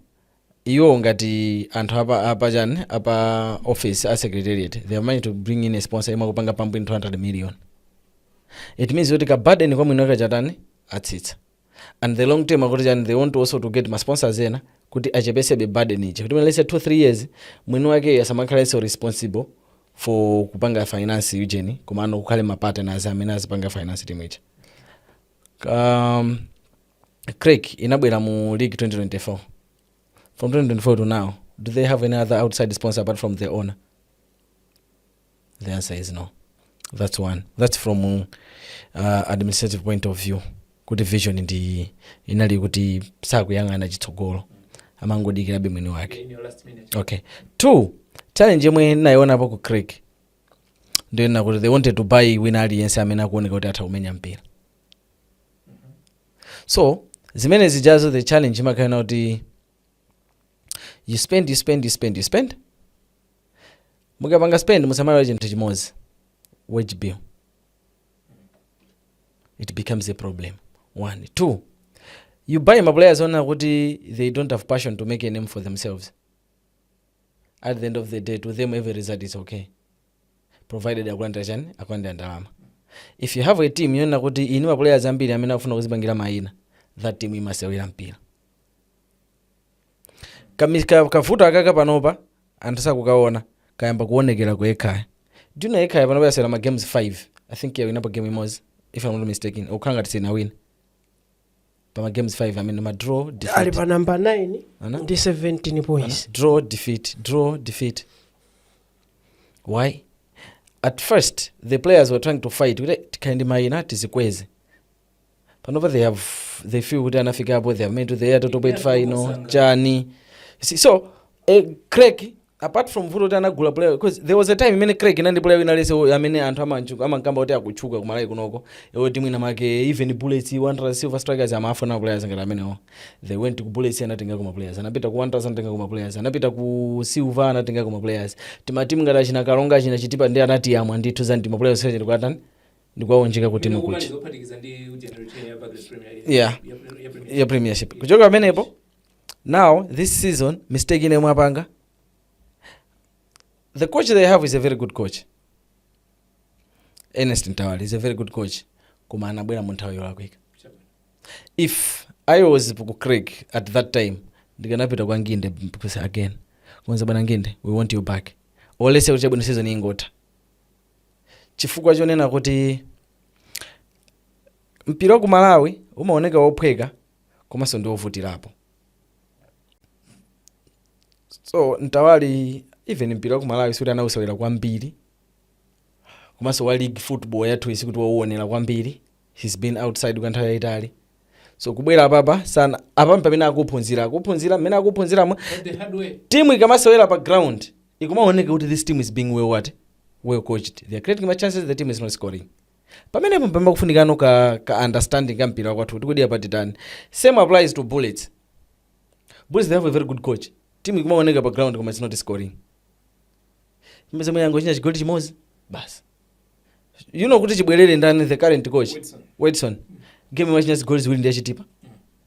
iwo ngati anthu a pa a pa chani a pa office a secretariat they have managed to bring in a sponsor yomwe akupanga pump in 200 million it means kuti ka burden kwa mwini wake chatani atsitsa and the long term akuti chani they want to also to get ma sponsors ena kuti achepesebe burden ija kuti mwina let's say 2 3 years mwini wake asamakhalenso responsible for kupanga finance ujeni komano kukhale ma partners amene azipanga finance timu ija um, craig inabwera mu league 2024 from 2024 to now do they have any other outside sponsor apart from their owner the answer is no that's one that's from uh, administrative point of view kuti vision ndi iyi ina ili kuti sakuyang'ana chitsogolo amangodikirabe mwini wake okay two challenge yomwe ndinayionapo ku creck ndiyonena kuti they wanted to buy wina aliyense amene akuoneka kuti atha kumenya mpira so zimene zijazo the challenge imakhala kuti you spend you spend you spend you spend mukapanga spend musamaiwale chinthu chimodzi wage bill it becomes a problem one two you buy ma players onena kuti they don't have passion to make a name for themselves at the end of the day to them every result is okay provided akulandira chani akulandira ndalama if you have a team yonena kuti ili ndi ma players ambiri amene akufuna kuzipangira mayina that team imasewera mpira Kami- ka- kavuto akaka panopa anthu sakukaona kayamba kuonekera ku ekhaya do you know ekhaya panopa yasewera ma games 5 i think yawinapo game imodzi if i'm not mistaken kukhala ngati sinawina pa ma games 5 amene ma draw ali defeat pa namba 9 Ana? ndi 17 points draw defeat draw defeat why at first the players were trying to fight kuti tikhale ndi mayina tizikweze panopa they have they feel kuti anafikapo they have made it to the Airtel Top 8 final chani Si- so eh, Creck apart from vuto kuti anagula player because there was a time imene Creck ina ndi player wina aliyense uyo amene anthu amantchula amankamba kuti akutchuka ku Malawi kunoko iwo timu ina yake even bullets wanderers silver strikers amafuna ma players ngati amenewo they went to bullets anatengako ma players anapita ku wanderers anatengako ma players anapita ku silver anatengako ma players timatimu ngati achina Karonga achina chitipa ndiye anatiyamwa ndithu za ndima players secheni kwatani ndikuwaunjika ku timu kuja yeah ya premiership kuchoka pamenepo now this season mistake ine yomwe apanga the coach they have is a very good coach ernest mtawali is a very good coach koma anabwera mu nthawi yolakwika if i was ku Creck at that time ndikanapita kwa nginde because again kuwauza bwana nginde we want you back at least kuti chabwino season ingotha chifukwa chonena kuti mpira wa ku malawi umaoneka wophweka komanso ndi wovutirapo so mtawali even mpira wa ku malawi sikuti anawusewera kwambiri komanso wa league football yathuyi sikuti wauonera kwambiri he's been outside kwa nthawi yayitali so kubwera apapa sinapa mpamene akuphunzira akuphunzira mmene akuphunziramo timu ikamasewera pa ground ikumaoneka kuti this team is being well what well coached they are creating ma chances the team is not scoring pamenepo mpamene pakufunikano ka, ka understanding ka mpira wakwathu kuti kodi apa titani same applies to bullets bullets they have a very good coach timu ikumawoneka pa ground koma it's not scoring mwina yangochinya chigoli chimodzi basi you know kuti chibwerereni ndani the current coach Wedson. Wedson game inachinya zigoli ziwiri ndi a Chitipa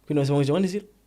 kwina konseko 1-0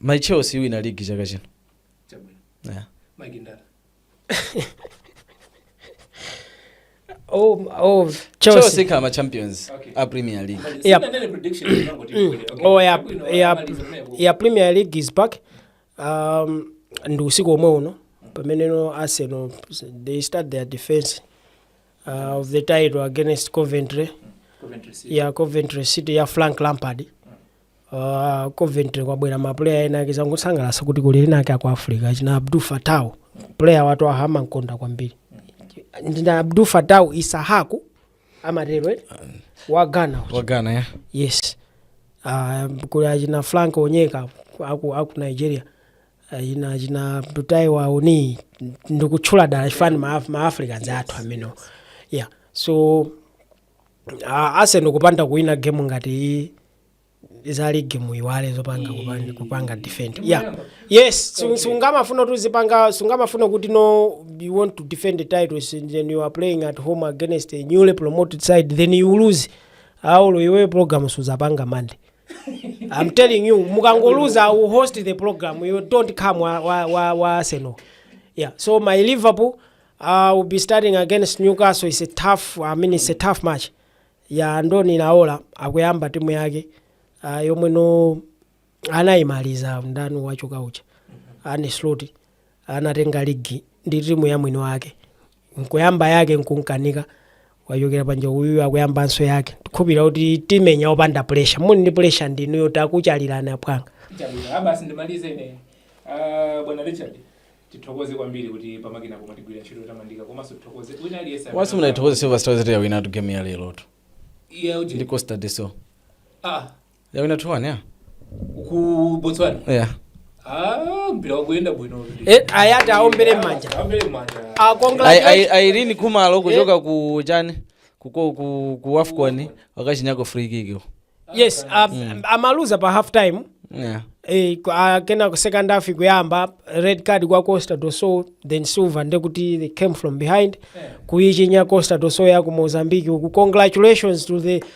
my chelsea iwina ligi chaka chino yeah. oh, oh, chelsea chelsea ikhala ma champions a premier league Yep. oh, ya, ya, ya premier league is back um, ndi usiku omwe uno pameneno arsenal they start their defense uh, of the title against Coventry Coventry City. ya Coventry City ya Frank Lampard uh, Coventry kwabwera mapuleya ena ake zangosangalatsa kuti kuli ena ake aku Africa achina Abdul Fatawu player wathu amamkonda kwambiri ndi a Abdul Fatawu Issahaku amatero eh? wa Ghana uja. wa Ghana ya yes uh, kuli achina Frank Onyeka aku, aku Nigeria Eh, ine achina Taiwo Awoniyi ndikutchula dala chifukwa ndi ma, ma africans athu amenewo yeah so uh, Arsenal kupanda kuwina game ngati iyi pazali game muiwale zopanga kupanga, kupanga defend yeah yes su- sungamafuna kuti uzipanga sungamafuna kuti no you want to defend the titles and then you are playing at home against a newly promoted side then you lose apo iwe program suzapanga Monday I'm telling you mukangoluza u host the program you don't come wa, wa, wa, wa Arsenal yeah so my Liverpool uh, will be starting against Newcastle it's a tough I mean it's a tough match ya Andoni Naola akuyamba timu yake uh, yomwe no anayimaliza mdani wachoka ucha ane sloti anatenga ligi ndi timu ya mwini wake nkuyamba yake nkumkanika wachokera panja uyu akuyambanso yake tikukhulupirira kuti timenya opanda pressure muli ndi pressure ndinuyo takutchalirani apwanga chabwino abasi ndimalize ine Ah, bwana richard tithokoze kwambiri kuti pamakina pomwe tigwira ntchito tamandika komanso tithokoze wina aliyense amene- wasi munaithokoza silver strikers kuti yawinatu game ya lero tu Yeah, uti- ndi costa do sol ah yawina 2-1 ya ku botswana yeah. ah mpira wakuyenda bwino kuti Eh, ayati aombere m'manja aombere m'manja Ah, congratulations. Ai- ai- ireen khumalo kuchoka ku chani kuko ku, ku afcon wakachinyako free kick yes ah, amaluza pa half time yeah. eh, ku- ah, kena ku second half kuyamba red card kwa costa do sol then silver ndekuti they came from behind kuichinya costa do sol ya ku mozambique uku congratulations to the